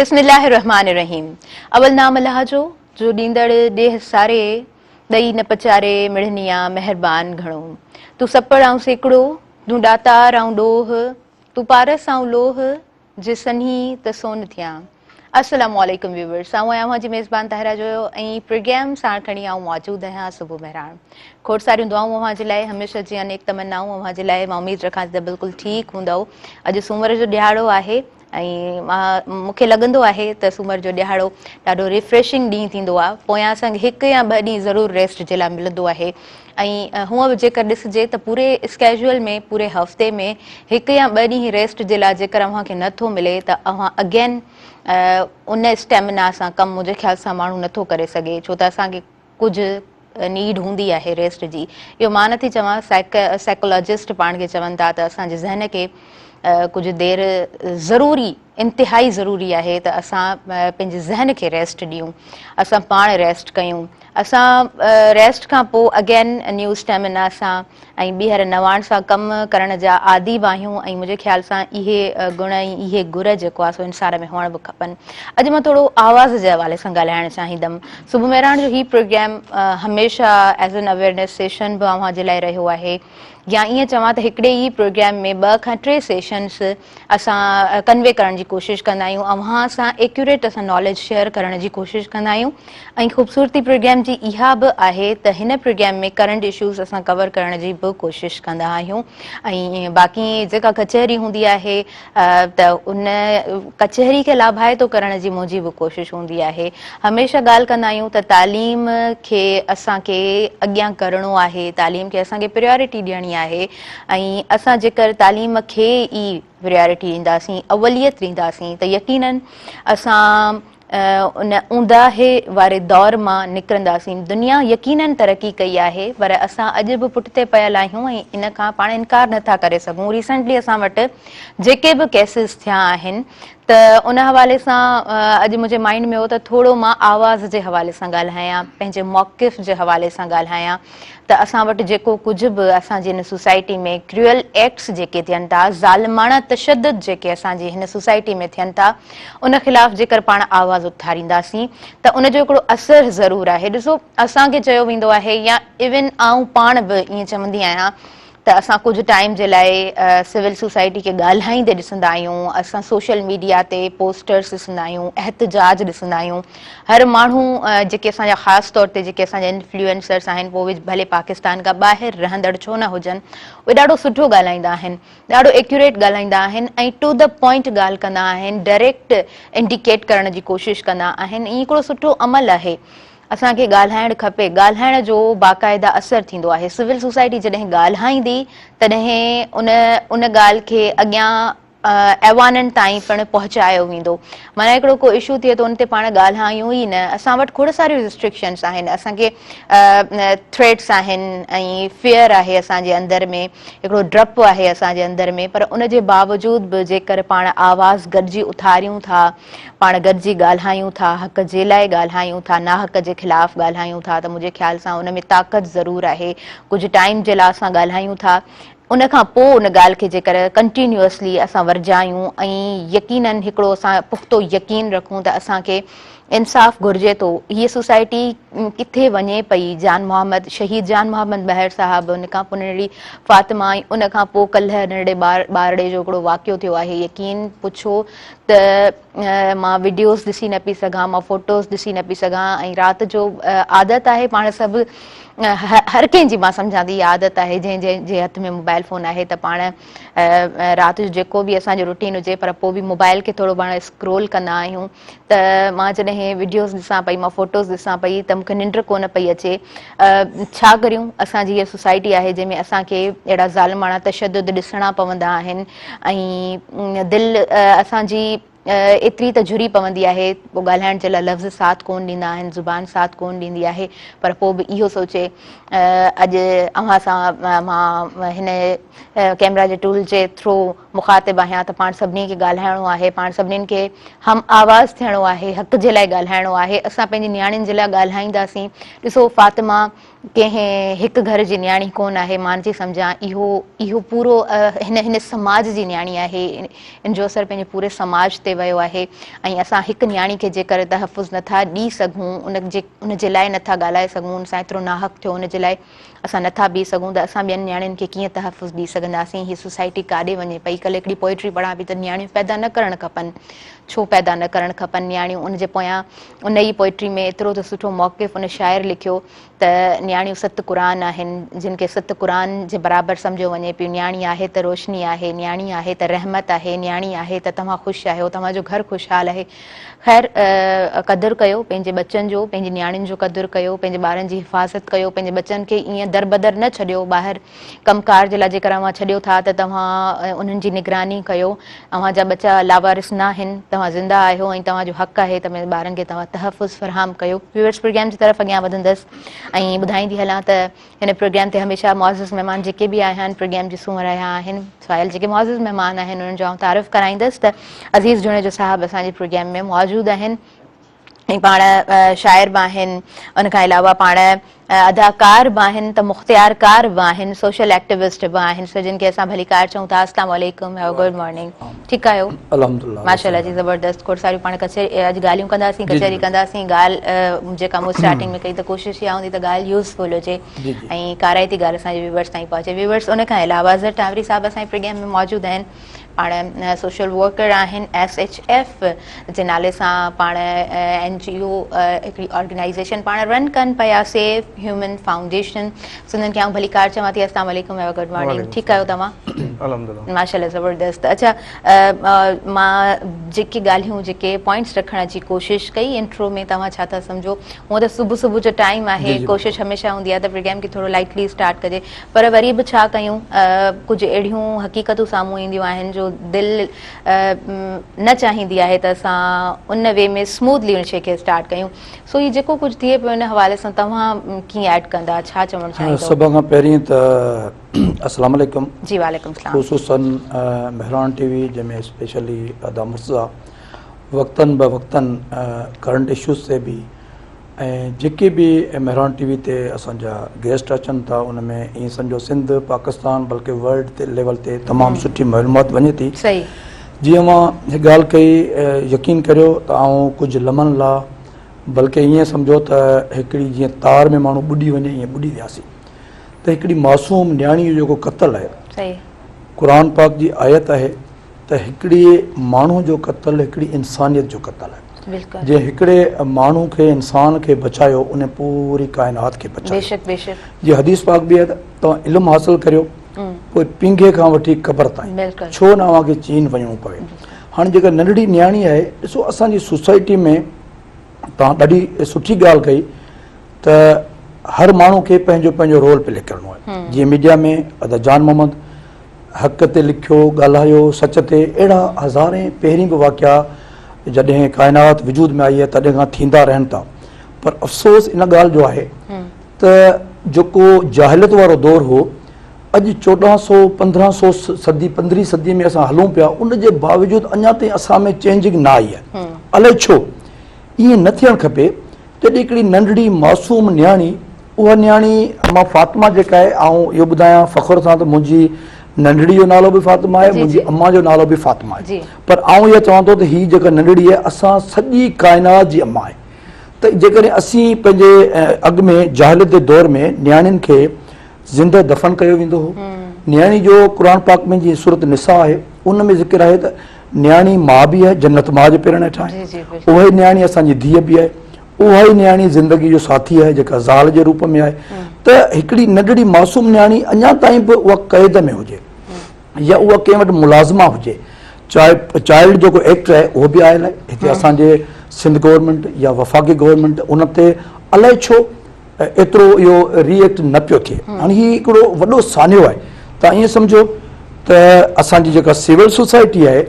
بسم الله الرحمٰن الرحيم اول نام الله جو جو ڏيندڙ ڏيهه ساري ڏئي نه پچاري مڙهنيا مهربان گهڻو تون سپڙ آئون سيڪڙو تون ڏاتار آئون ڏوهه تون پارس آئون لوهه جي سنهي ته سون ٿيان. السلام عليڪم ويورز آئون آهيان اوهان جي ميزبان طاهره جويو ۽ پرگيم ساڻ کڻي آئون موجود آهيان صبح مهراڻ کوڙ ساريون دعائون اوهان جي لاء هميشه جيئن انيڪ تمنائون اوهان جي لاء مان اميد رکان ٿي ته بلڪل ٺيڪ هوندؤ اڄ سومر جو ڏيهاڙو آهي ۽ مون کي لڳندو آهي ته سومر جو ڏيهاڙو ڏاڍو ريفريشنگ ڏينهن ٿيندو آهي پويان سنگ هڪ يا ٻه ڏينهن ضرور ريسٽ جي لاء ملندو آهي ۽ هونء به جيڪر ڏسجي ته پوري اسڪيجول ۾ پوري هفتي ۾ هڪ يا ٻه ڏينهن ريسٽ جي لاء جيڪر اوهان کي نه ٿو ملي ته اوهان اگين ان اسٽيمنا سان ڪم منهنجي خيال سان ماڻهو نه ٿو ڪري سگهي ڇو ته اسان کي ڪجهه نيڊ هوندي آهي ريسٽ جي اهو مان نٿي چوان سائيڪالاجسٽ پاڻ کي چون ٿا ته اسان جي ذهن کي ڪجهه دير ضروري انتهائي ضروري آهي ته اسان پنهنجي ذهن کي ريسٽ ڏيون اسان پاڻ ريسٽ ڪيون اسان ريسٽ کان پوء اگين نيو اسٽيمنا سان ۽ ٻيهر نواڻ سان ڪم ڪرڻ جا عادي به آهيون ۽ منهنجي خيال سان اهي گڻ ۽ اهي گر جيڪو آهي سو انسان ۾ هئڻ به کپن اڄ مان ٿورو آواز جي حوالي سان ڳالهائڻ چاهيندم صبح مهراڻ جو هي پروگرام هميشه ايز اين اويرنيس سيشن به اوهان جي لاء رهيو آهي يا ائين چوان ته هڪڙي ئي پروگرام ۾ ٻه کان ٽي سيشنس اسان ڪنوي ڪرڻ جي ڪوشش ڪندا آهيون اوهان سان ايڪيوريٽ اسان ناليج شيئر ڪرڻ جي ڪوشش ڪندا آهيون ۽ خوبصورتي پروگرام جي اها به آهي ته هن پروگرام ۾ ڪرنٽ اشوز اسان ڪور ڪرڻ جي به ڪوشش ڪندا آهيون ۽ باقي جيڪا ڪچهري هوندي آهي ته ان ڪچهري کي لاڀائتو ڪرڻ جي منهنجي به ڪوشش هوندي آهي هميشه ڳالهه ڪندا آهيون ته تعليم کي اسان کي اڳيان ڪرڻو آهي تعليم کي اسان کي پريورٽي ڏيڻي آهي ۽ اسان جيڪر تعليم کي ئي پريارٽي ڏينداسين، اوليت ڏينداسين ته يقيناً اسان ان اونداهي واري دور مان نڪرنداسين. دنيا يقيناً ترقي ڪئي آهي پر اسان اڄ به پٺتي پيل آهيون ۽ ان کان پاڻ انڪار نه ٿا ڪري سگهون. ريسنٽلي اسان وٽ جيڪي به ڪيسز ٿيا آهن ته ان حوالي سان اڄ منهنجي مائنڊ ۾ هو ته ٿورو مان آواز جي حوالي سان ڳالهايان، پنهنجي موقف جي حوالي سان ڳالهايان. ته اسان وٽ جيڪو ڪجهه به اسان جي هن سوسائٽي ۾ ڪريول ايڪٽس جيڪي ٿين ٿا، ظالماڻه تشدد جيڪي اسان جي هن سوسائٽي ۾ ٿين ٿا، ان خلاف جيڪر پاڻ آواز اٿارينداسين ته ان جو هڪڙو اثر ضرور آهي. ڏسو اسان کي چيو ويندو آهي يا ايون آئون پاڻ به ائين چوندي آهيان ته اسان ڪجهه ٽائيم جي لاء سول سوسائٽي کي ڳالهائيندي ڏسندا آهيون، اسان سوشل ميڊيا تي پوسٽرس ڏسندا آهيون، احتجاج ڏسندا آهيون، هر ماڻهو جيڪي اسان جا خاص طور تي جيڪي اسان جا انفلوئنسرس آهن پوء ڀلي پاڪستان کان ٻاهر رهندڙ ڇو نه هجن اهي ڏاڍو سٺو ڳالهائيندا آهن، ڏاڍو ايڪيوريٽ ڳالهائيندا آهن ۽ ٽو دي پوائنٽ ڳالهه ڪندا آهن، ڊائريڪٽ انڊيڪيٽ ڪرڻ جي ڪوشش ڪندا آهن ۽ هي هڪڙو سٺو عمل آهي. اسان کي ڳالهائڻ کپي، ڳالهائڻ جو باقاعده اثر ٿيندو آهي، سول سوسائٽي جڏهن ڳالهائيندي تڏهن ان ان ڳالهه کي اڳيان ايوانن تائين پڻ پهچايو ويندو، معنيٰ هڪڙو ڪو اشو ٿئي ته ان تي پاڻ ڳالهايون ئي نه، اسان وٽ کوڙ ساريون رسٽرڪشنس آهن، اسان کي ٿريٽس آهن ۽ فيئر آهي اسان جي اندر ۾ هڪڙو ڊپ آهي اسان جي اندر ۾ پر ان جي باوجود به جيڪر پاڻ آواز گڏجي اٿاريون ٿا، پاڻ گڏجي ڳالهايون ٿا، حق جي لاء ڳالهايون ٿا، ناحق جي خلاف ڳالهايون ٿا ته منهنجي خيال سان ان ۾ طاقت ضرور آهي. ڪجهه ٽائيم جي لا اسان ڳالهايون ٿا، ان کان پوء ان ڳالهه کي جيڪر ڪنٽينيوسلي اسان ورجايون ۽ يقينن هڪڙو اسان پختو يقين رکون ته اسان کي انصاف گهرجي ٿو، هيء سوسائٽي ڪٿي وڃي پئي، جان محمد، شهيد جان محمد مهر صاحب، ان کان پوء ننڍڙي فاطمه ۽ ان کان پوء ڪلهه ننڍڙي ٻارڙي جو هڪڙو واقعو ٿيو آهي، يقين پڇو ته مان وڊيوز ڏسي نه پئي سگهان مان فوٽوز ڏسي نه پئي سگهان ۽ رات جو عادت آهي پاڻ سڀ هر ڪنهن جي مان سمجهان ٿي اها عادت آهي جنهن جنهن جي هٿ ۾ موبائل فون آهي ته پاڻ رات جو جيڪو به اسان جو روٽين هجي پر پوء به موبائل کي ٿورو پاڻ اسڪرول ڪندا آهيون ته مان جڏهن وڊيوز ڏسان پئي مان فوٽوز ڏسان پئي ته مون کي ننڊ ڪونه پئي اچي ڇا ڪريون اسان جي هيء سوسائٽي آهي جنهن ۾ اسان کي اهڙا ظالماڻا تشدد ڏسڻا پوندا آهن ۽ دل اسان جي ايتري ته جھري پوندي آهي پوء ڳالهائڻ جي لاء لفظ ساٿ ڪون ڏيندا آهن زبان ساٿ ڪون ڏيندي آهي پر پوء به اهو سوچي اڄ اوهان سان مان هن ڪيمرا جي ٽول جي ٿرو مخاطب آهيان ته پاڻ سڀني کي ڳالهائڻو آهي، پاڻ سڀني کي هم آواز ٿيڻو آهي، حق جي لاء ڳالهائڻو آهي، اسان پنهنجي نياڻين جي لاء ڳالهائينداسين، ڏسو فاطمه ڪنهن هڪ گهر جي نياڻي ڪونه آهي، مان نٿي سمجهان اهو اهو پورو هن هن سماج جي نياڻي آهي، ان جو اثر پنهنجي پوري سماج تي ويو آهي ۽ اسان هڪ نياڻي کي جيڪر تحفظ نٿا ڏئي سگهون، ان جي ان جي لاء نٿا ڳالهائي سگهون، ان سان ايترو ناحق ٿيو ان جي لاء. اسان نٿا بيهي سگهون ته اسان ٻين نياڻين کي ڪيئن تحفظ ڏئي سگهنداسين. هيء سوسائٽي ڪاڏي وڃي پئي. ڪلهه هڪڙي پوئٽري پڙهان پئي ته نياڻيون پيدا نه ڪرڻ کپن. ڇو پيدا نه ڪرڻ کپن نياڻيون ان جي پويان ان ئي پوئٽري ۾ ايترو ته سٺو موقف ان شاعر لکيو ته نياڻيون ست قرآن آهن جن کي ست قرآن جي برابر سمجهيو وڃي پيو نياڻي آهي ته روشني آهي نياڻي آهي ته رحمت آهي نياڻي آهي ته توهان خوش آهيو توهان جو گهر خوشحال آهي خير قدر ڪيو پنهنجي ٻچن جو پنهنجي نياڻين جو قدر ڪيو پنهنجي ٻارن جي حفاظت ڪيو پنهنجي ٻچن کي ائين دربدر نه ڇڏيو ٻاهر ڪم ڪار جي لاء جيڪر اوهان ڇڏيو ٿا ته توهان انهن جي نگراني ڪيو اوهان جا ٻچا لاوارث ناهن توهان زنده آهيو ۽ توهان جو حق آهي ته پنهنجي ٻارن کي توهان تحفظ فراهم ڪيو ويورس پروگرام جي طرف اڳيان وڌندس ۽ ٻڌائيندي هلان ته هن پروگرام تي هميشه معزز مهمان جيڪي به آيا آهن پروگرام جي سونهن رهيا آهن سوائل جيڪي معزز مهمان آهن انهن جو آئون تعارف ڪرائيندس ته عزيز جوڻيجو صاحب اسان جي پروگرام ۾ موجود آهن ۽ پاڻ شاعر به آهن ان کان علاوه پاڻ اداڪار به آهن ته مختيار ڪار به آهن سوشل ايڪٽيوسٽ به آهن سو جن کي اسان ڀليڪار چئون ٿا السلام عليڪم گڊ مارننگ ٺيڪ آهيو الحمدلله ماشاءالله جي زبردست کوڙ ساريون پاڻ ڪچهري اڄ ڳالهيون ڪنداسين ڪچهري ڪنداسين ڳالهه جيڪا مون اسٽارٽنگ ۾ ڪئي ته ڪوشش اها هوندي ته ڳالهه يوزفل هجي ۽ ڪارائتي ڳالهه اسان جي ويورس تائين پهچي ويورس ان کان علاوه اظهر ٽانوري صاحب اسان جي پروگرام ۾ موجود آهن پاڻ سوشل ورڪر آهن ايس ايچ ايف جي نالي سان پاڻ اين جي او هڪڙي آرگنائزيشن پاڻ رن ڪن پيا سيف هيومن فائونڊيشن سندن کي آئون ڀليڪار چوان ٿي اسلام عليڪم ايوا گڊ مارننگ ٺيڪ آهيو توهان الحمدلله ماشاءالله زبردست اڇا مان جيڪي ڳالهيون جيڪي پوائنٽس رکڻ جي ڪوشش ڪئي انٽرو ۾ توهان ڇا ٿا سمجهو هون ته صبح صبح جو ٽائيم آهي ڪوشش هميشه هوندي آهي ته پروگرام کي ٿورو لائٽلي اسٽارٽ ڪجي پر وري به ڇا ڪيون ڪجهه اهڙيون حقيقتون سامهون اينديون آهن جو دل نه چاهيندي آهي ته اسان ان وي ۾ اسموڌلي ان شي کي اسٽارٽ ڪيون سو هي جيڪو ڪجهه ٿئي پيو ان حوالي سان توهان ڪيئن ايڊ ڪندا ڇا چوڻ چاهيندو سڀ کان پهرين ته اسلام عليڪم جي وعليڪم اسلام خصوصا مهراڻ ٽي وي جنهن ۾ اسپيشلي ادا مرتضا وقتن به وقتن ڪرنٽ اشوز تي به ۽ جيڪي به مهراڻ ٽي وي تي اسانجا گيسٽ اچن ٿا ان ۾ ائين سمجهو سنڌ پاڪستان بلڪه ورلڊ تي ليول تي تمام سٺي معلومات وڃي ٿي صحيح جيئن اوهان هي ڳالهه ڪئي، يقين ڪريو ته آئون ڪجهه لمحن لا بلڪ ائين سمجهيو ته هڪڙي جيئن تار ۾ ماڻهو ٻڏي وڃي ائين ٻڏي وياسين ته هڪڙي معصوم نياڻي جو جيڪو قتل آهي قرآن پاڪ جي آيت آهي ته هڪڙي ماڻهو جو قتل هڪڙي انسانيت جو قتل آهي جنهن هڪڙي ماڻهو کي انسان کي بچايو ان پوري ڪائنات کي بچايو جي حديث پاڪ به آهي ته علم حاصل ڪريو پوء پينگهي کان وٺي قبر تائين ڇو نه اوهان کي چين وڃڻو پوي. هاڻي جيڪا ننڍڙي نياڻي آهي ڏسو اسان جي سوسائٽي ۾ توهان ڏاڍي سٺي ڳالهه ڪئي ته هر ماڻهو کي پنهنجو پنهنجو رول پلي ڪرڻو آهي جيئن ميڊيا ۾ ادا جان محمد حق تي لکيو ڳالهايو سچ تي اهڙا هزارين پهرين به واقعا جڏهن ڪائنات وجود ۾ آئي آهي تڏهن کان ٿيندا رهن ٿا پر افسوس ان ڳالهه جو آهي ته جيڪو جاهليت وارو دور هو، اڄ چوڏهن سئو پندرهن سئو صدي پندرهين صدي ۾ اسان هلون پيا، ان جي باوجود اڃا تائين اسان ۾ چينجنگ نه آئي آهي. الائي ڇو؟ ائين نه ٿيڻ کپي. جڏهن هڪڙي ننڍڙي معصوم نياڻي، اها نياڻي مان فاطمه جيڪا آهي، آئون اهو ٻڌايان فخر سان ته منهنجي ننڍڙي جو نالو به فاطمه آهي، منهنجي امان جو نالو به فاطمه آهي. پر آئون اها چوان ٿو ته هي جيڪا ننڍڙي آهي، اسان سڄي ڪائنات جي امان آهي. ته جيڪڏهن اسين پنهنجي اڳ ۾ جاهليت جي دور ۾ نياڻين کي زنده دفن ڪيو ويندو هو نياڻي جو قرآن پاڪ ۾ جي سورت نساء آهي ان ۾ ذڪر آهي ته نياڻي ماء به آهي جنت ماء جي پيرن هيٺان آهي اها ئي نياڻي اسان جي ڌيء به آهي اها ئي نياڻي زندگي جو ساٿي آهي جيڪا زال جي روپ ۾ آهي ته هڪڙي ننڍڙي معصوم نياڻي اڃا تائين به اها قيد ۾ هجي يا اها ڪنهن وٽ ملازمه هجي چائلڊ جيڪو ايڪٽ آهي اهو به آيل آهي هتي اسان جي سنڌ گورنمينٽ يا وفاقي گورنمينٽ ان تي الائي ڇو ايترو اهو ري ايڪٽ نه پيو ٿئي هاڻي هي هڪڙو وڏو سانحو آهي تون ائين سمجهو ته اسان جي جيڪا سول سوسائٽي آهي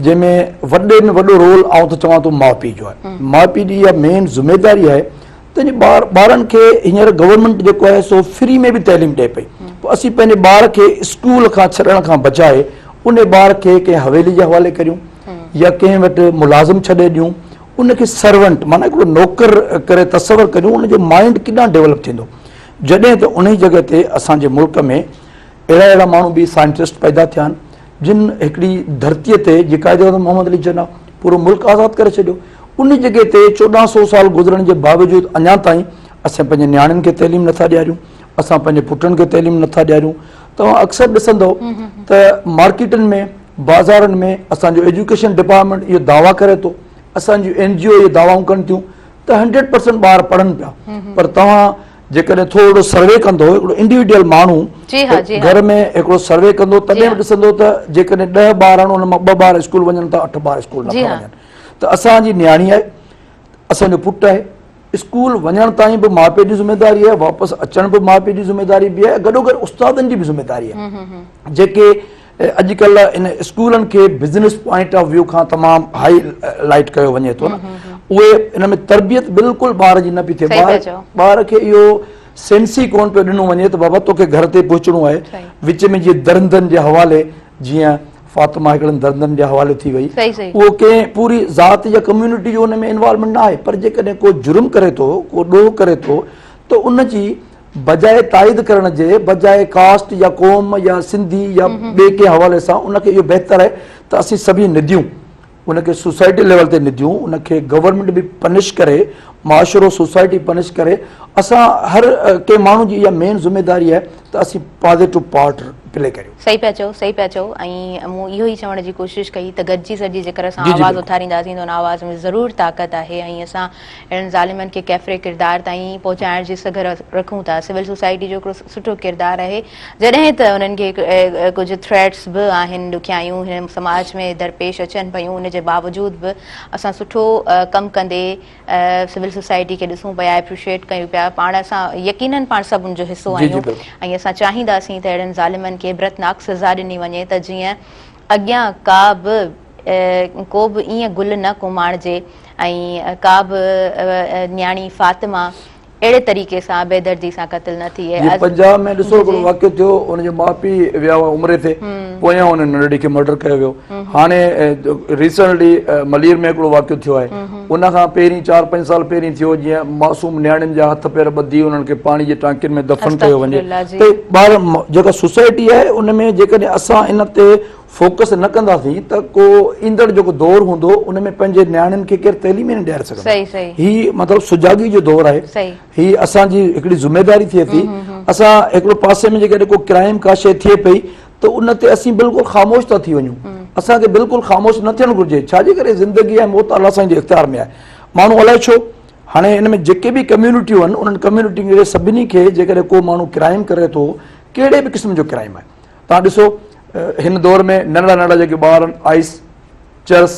جنهن ۾ وڏي ۾ وڏو رول آئون ته چوان ٿو ماء پيء جو آهي ماء پيء جي اها مين ذميواري آهي تنهنجي ٻار ٻارن کي هينئر گورنمينٽ جيڪو آهي سو فري ۾ به تعليم ڏئي پئي پوء اسين پنهنجي ٻار کي اسڪول کان ڇڏڻ کان بجاء ان ٻار کي ڪنهن حويلي جي حوالي ڪريون يا ڪنهن وٽ ملازم ڇڏي ڏيون ان کي سرونٽ معنيٰ هڪڙو نوڪر ڪري تصور ڪريون ان جو مائنڊ ڪيڏانهن ڊيولپ ٿيندو جڏهن ته انهي جڳهه تي اسان جي ملڪ ۾ اهڙا اهڙا ماڻهو به سائنٽسٽ پيدا ٿيا آهن جن هڪڙي ڌرتيء تي جي قائداعظم محمد علي جناح پورو ملڪ آزاد ڪري ڇڏيو، ان جڳهه تي چوڏهن سؤ سال گذرڻ جي باوجود اڃا تائين اسين پنهنجي نياڻين کي تعليم نٿا ڏياريون، اسان پنهنجي پٽن کي تعليم نٿا ڏياريون. توهان اڪثر ڏسندؤ ته مارڪيٽن ۾ بازارن ۾ اسان جو ايجوڪيشن ڊپارٽمينٽ اهي دعويٰ ڪري ٿو، اسان جون اين جي او اهي دعويٰ ڪن ٿيون ته هنڊريڊ پرسينٽ ٻار پڙهن پيا پر توهان جيڪڏهن ٿورڙو سروي ڪندو هڪڙو انڊيوڊيل ماڻهو گهر ۾ هڪڙو سروي ڪندو تڏهن به ڏسندو ته جيڪڏهن ڏهه ٻار آهن ان مان ٻه ٻار اسڪول وڃن ٿا اٺ ٻار اسڪول نٿا وڃن ته اسان جي نياڻي آهي اسان جو پٽ آهي اسڪول وڃڻ تائين به ماء پيء جي ذميواري آهي واپس اچڻ به ماء پيء جي ذميواري به آهي گڏو گڏ استادن جي به ذميواري آهي جيڪي اڄڪلهه ان اسڪولن کي بزنس پوائنٽ آف ويو کان تمام هاء لائيٽ ڪيو وڃي ٿو نه اهي ان ۾ تربيت بلڪل ٻار جي نه پئي ٿئي ٻار کي اهو سينس ئي ڪون پيو ڏنو وڃي ته بابا توکي گهر تي پهچڻو آهي وچ ۾ جيئن درندن جي حوالي جيئن فاطمه هڪڙن درندن جي حوالي ٿي وئي اهو ڪنهن پوري ذات يا ڪميونٽي جو ان ۾ انوالومينٽ نه آهي پر جيڪڏهن ڪو جرم ڪري ٿو ڪو ڏوهه ڪري ٿو ته ان جي بجاء تائيد ڪرڻ جي، بجاء ڪاسٽ يا قوم يا سنڌي يا ٻئي ڪنهن حوالي سان ان کي اهو بهتر آهي ته اسين سڀئي نديون ان کي سوسائٽي ليول تي نديون ان کي گورنمينٽ به پنش ڪري معاشرو سوسائٽي پنش ڪري اسان هر ڪنهن ماڻهو جي اها مين ذميداري آهي ته اسين پازيٽو پارٽ پلي ڪريون. صحيح پيا چئو صحيح پيا چئو ۽ مون اهو ئي چوڻ جي ڪوشش ڪئي ته گڏجي سڏجي جيڪر اسان آواز اٿارينداسين ته ان آواز ۾ ضرور طاقت آهي ۽ اسان اهڙن ظالمن کي ڪيفري ڪردار تائين پهچائڻ جي سگهه رکون ٿا سول سوسائٽي جو هڪڙو سٺو ڪردار آهي جڏهن ته انهن کي ڪجهه ٿريٽس به آهن ڏکيائيون هن سماج ۾ درپيش اچن پيون ان جي باوجود به اسان سٺو ڪم ڪندي سول سوسائٽي کي ڏسون پيا اپريشيٽ ڪيون پيا پاڻ اسان يقينن پاڻ سڀ ان جو حصو آهيون ۽ اسان چاهينداسين ته اهڙن ظالمن کي عبرتناڪ سزا ڏني وڃي ته جيئن اڳيان ڪا به ڪو به ائين گل نه ڪوماڻجي ۽ ڪا به نياڻي فاطمه اهڙي طريقي سان بي دردي سان قتل نه ٿئي. جي پنجاب ۾ ڏسو هڪڙو واقعو ٿيو ان جي ماء پي ويا هئا عمري تي پويان انهن ننڍڙي کي مرڊر ڪيو ويو هاڻي ريسنٽلي ملير ۾ هڪڙو واقعو ٿيو آهي ان کان پهرين چار پنج سال پهرين ٿيو جيئن معصوم نياڻين جا هٿ پير ٻڌي انهن کي پاڻي جي ٽانڪين ۾ دفن ڪيو وڃي ته ٻار جيڪا سوسائٽي آهي ان ۾ جيڪڏهن اسان ان تي فوڪس نه ڪنداسين ته ڪو ايندڙ جيڪو دور هوندو ان ۾ پنهنجي نياڻين کي ڪير تعليم ئي نه ڏياري سگهندو هي مطلب سجاڳي جو دور آهي هي اسان جي هڪڙي ذميواري ٿئي ٿي اسان هڪڙو پاسي ۾ جيڪڏهن ڪو ڪرائم ڪا شيء ٿئي پئي ته ان تي اسين بلڪل خاموش ٿا ٿي وڃون اسان کي بلڪل خاموش نه ٿيڻ گهرجي ڇا جي ڪري زندگي ۽ موت الله سائين جي اختيار ۾ آهي ماڻهو الائي ڇو هاڻي ان ۾ جيڪي به ڪميونٽيون آهن انهن ڪميونٽين کي سڀني کي جيڪڏهن ڪو ماڻهو ڪرائم ڪري ٿو ڪهڙي به قسم جو ڪرائم آهي تان ڏسو هن دور ۾ ننڍڙا ننڍڙا جيڪي ٻار آهن آئس چرس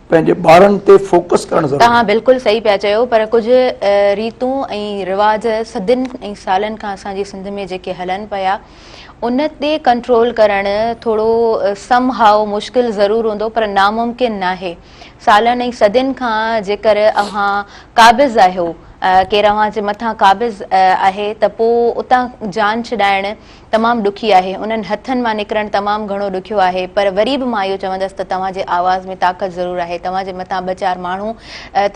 پنهنجي ٻارن تي فوڪس ڪرڻ ضروري آهي. توهان بلڪل صحيح پيا چيو پر ڪجھ ريتون ۽ رواج صدين ۽ سالن کان اسان جي سنڌ ۾ جيڪي هلن پيا ان تي ڪنٽرول ڪرڻ ٿورو سم هائو مشڪل ضرور هوندو پر ناممڪن ناهي سالن ۽ صدين کان جيڪر اوهان قابض آهيو ڪير اوهان جي مٿان قابض آهي ته پو اتان جان ڇڏائڻ تمام ڏکي آهي، انهن هٿن مان نڪرڻ تمام گهڻو ڏکيو آهي، پر وري به مان اهو چوندس ته توهان جي آواز ۾ طاقت ضرور آهي، توهان جي مٿان ٻه چار ماڻهو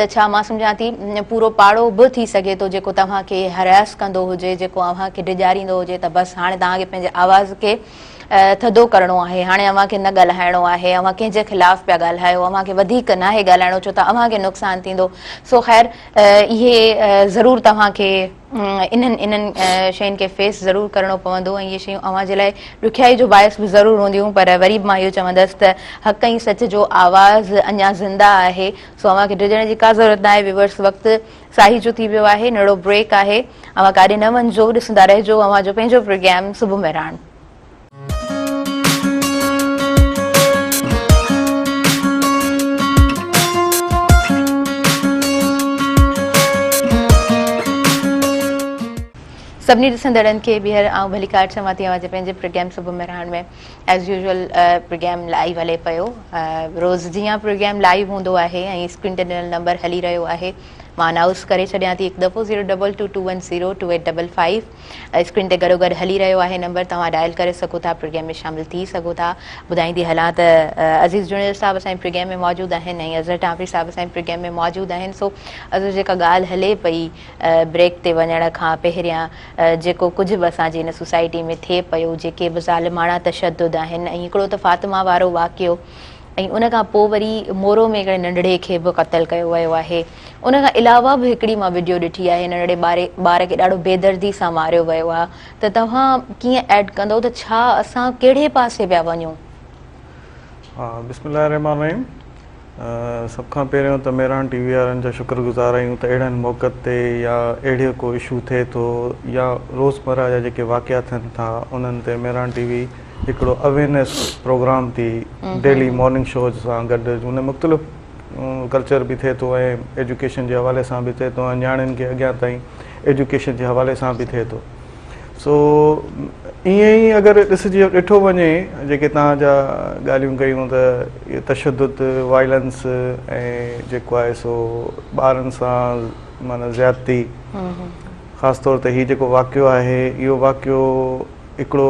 ته ڇا مان سمجهان ٿي پورو پاڙو به ٿي سگهي ٿو جيڪو توهان کي Harass ڪندو هجي، جيڪو اوهان کي ڊيڄاريندو هجي ته بس هاڻي توهان کي پنهنجي آواز کي ٿڌو ڪرڻو آهي، هاڻي اوهان کي نه ڳالهائڻو آهي، اوهان ڪنهن جي خلاف پيا ڳالهايو، اوهان کي وڌيڪ ناهي ڳالهائڻو ڇو ته اوهان کي نقصان ٿيندو، سو خير اهي ضرور توهان کي. انهن انهن شين کي فيس ضرور ڪرڻو پوندو ۽ اهي شيون اوهان جي لاء ڏکيائي جو باعث به ضرور هونديون پر وري به مان اهو چوندس ته حق ۽ سچ جو آواز اڃا زنده آهي سو اوهان کي ڊڄڻ جي ڪا ضرورت ناهي ويورس وقت ساهيجو ٿي ويو آهي نڙو بريڪ آهي اوهان ڪاڏي نه وڃجو ڏسندا رهجو اوهان جو پنهنجو پروگرام صبح مهراڻ. سڀني ڏسندڙن کي ٻيهر آئون ڀليڪار چوان ٿي اوهان جي پنهنجي پروگرام صبح Mehran ۾ as usual programme live هلي پيو روز جيان پروگرام لائيو هوندو آهي ۽ اسڪرين تي ڏنل نمبر هلي رهيو آهي مان انائونس ڪري ڇڏيان ٿي هڪ دفعو zero double two two one zero two eight double five screen تي گڏوگڏ هلي رهيو آهي نمبر توهان ڊائل ڪري سگهو ٿا پروگريم ۾ شامل ٿي سگهو ٿا ٻڌائيندي هلان ته عزيز جوڻيجو صاحب اسان جي پروگريم ۾ موجود آهن ۽ اظهر ٽامپري صاحب اسان جي پروگريم ۾ موجود آهن سو اظهر جيڪا ڳالهه هلي پئي بريڪ تي وڃڻ کان پهريان جيڪو ڪجهه به اسان جي هن سوسائٽي ۾ ٿئي پيو جيڪي به ظالماڻا تشدد آهن ۽ هڪڙو ته فاطمه وارو واقعو ۽ ان کان پوء وري مورو ۾ هڪڙي ننڍڙي کي به قتل ڪيو ويو آهي ان کان علاوه به هڪڙي مان وڊيو ڏٺي آهي ننڍڙي ٻار کي ڏاڍو بي دردي سان ماريو ويو آهي ته توهان ڪيئن ايڊ ڪندو ته ڇا اسان ڪهڙي پاسي پيا وڃون. ها بسم الله الرحمٰن الرحيم سڀ کان پهريون ته ميران ٽي وي وارن جا شڪر گذار آهيون ته اهڙن موقعن تي يا اهڙيو ڪو اشو ٿئي ٿو يا روزمره جا جيڪي واقعا ٿين ٿا انهن تي ميران ٽي وي هڪڙو اويرنيس پروگرام ٿي ڊيلي مارننگ شوز سان گڏ ان مختلف ڪلچر به ٿئي ٿو ۽ ايجوڪيشن جي حوالي سان به ٿئي ٿو ۽ نياڻين کي اڳيان تائين ايجوڪيشن جي حوالي سان به ٿئي ٿو سو ائين ئي اگر ڏسجي ڏٺو وڃي جيڪي تان جا ڳالهيون ڪيون ته اهي تشدد وائلنس ۽ جيڪو آهي سو ٻارن سان معنی زيادتي خاص طور تي هي جيڪو واقعو آهي اهو واقعو هڪڙو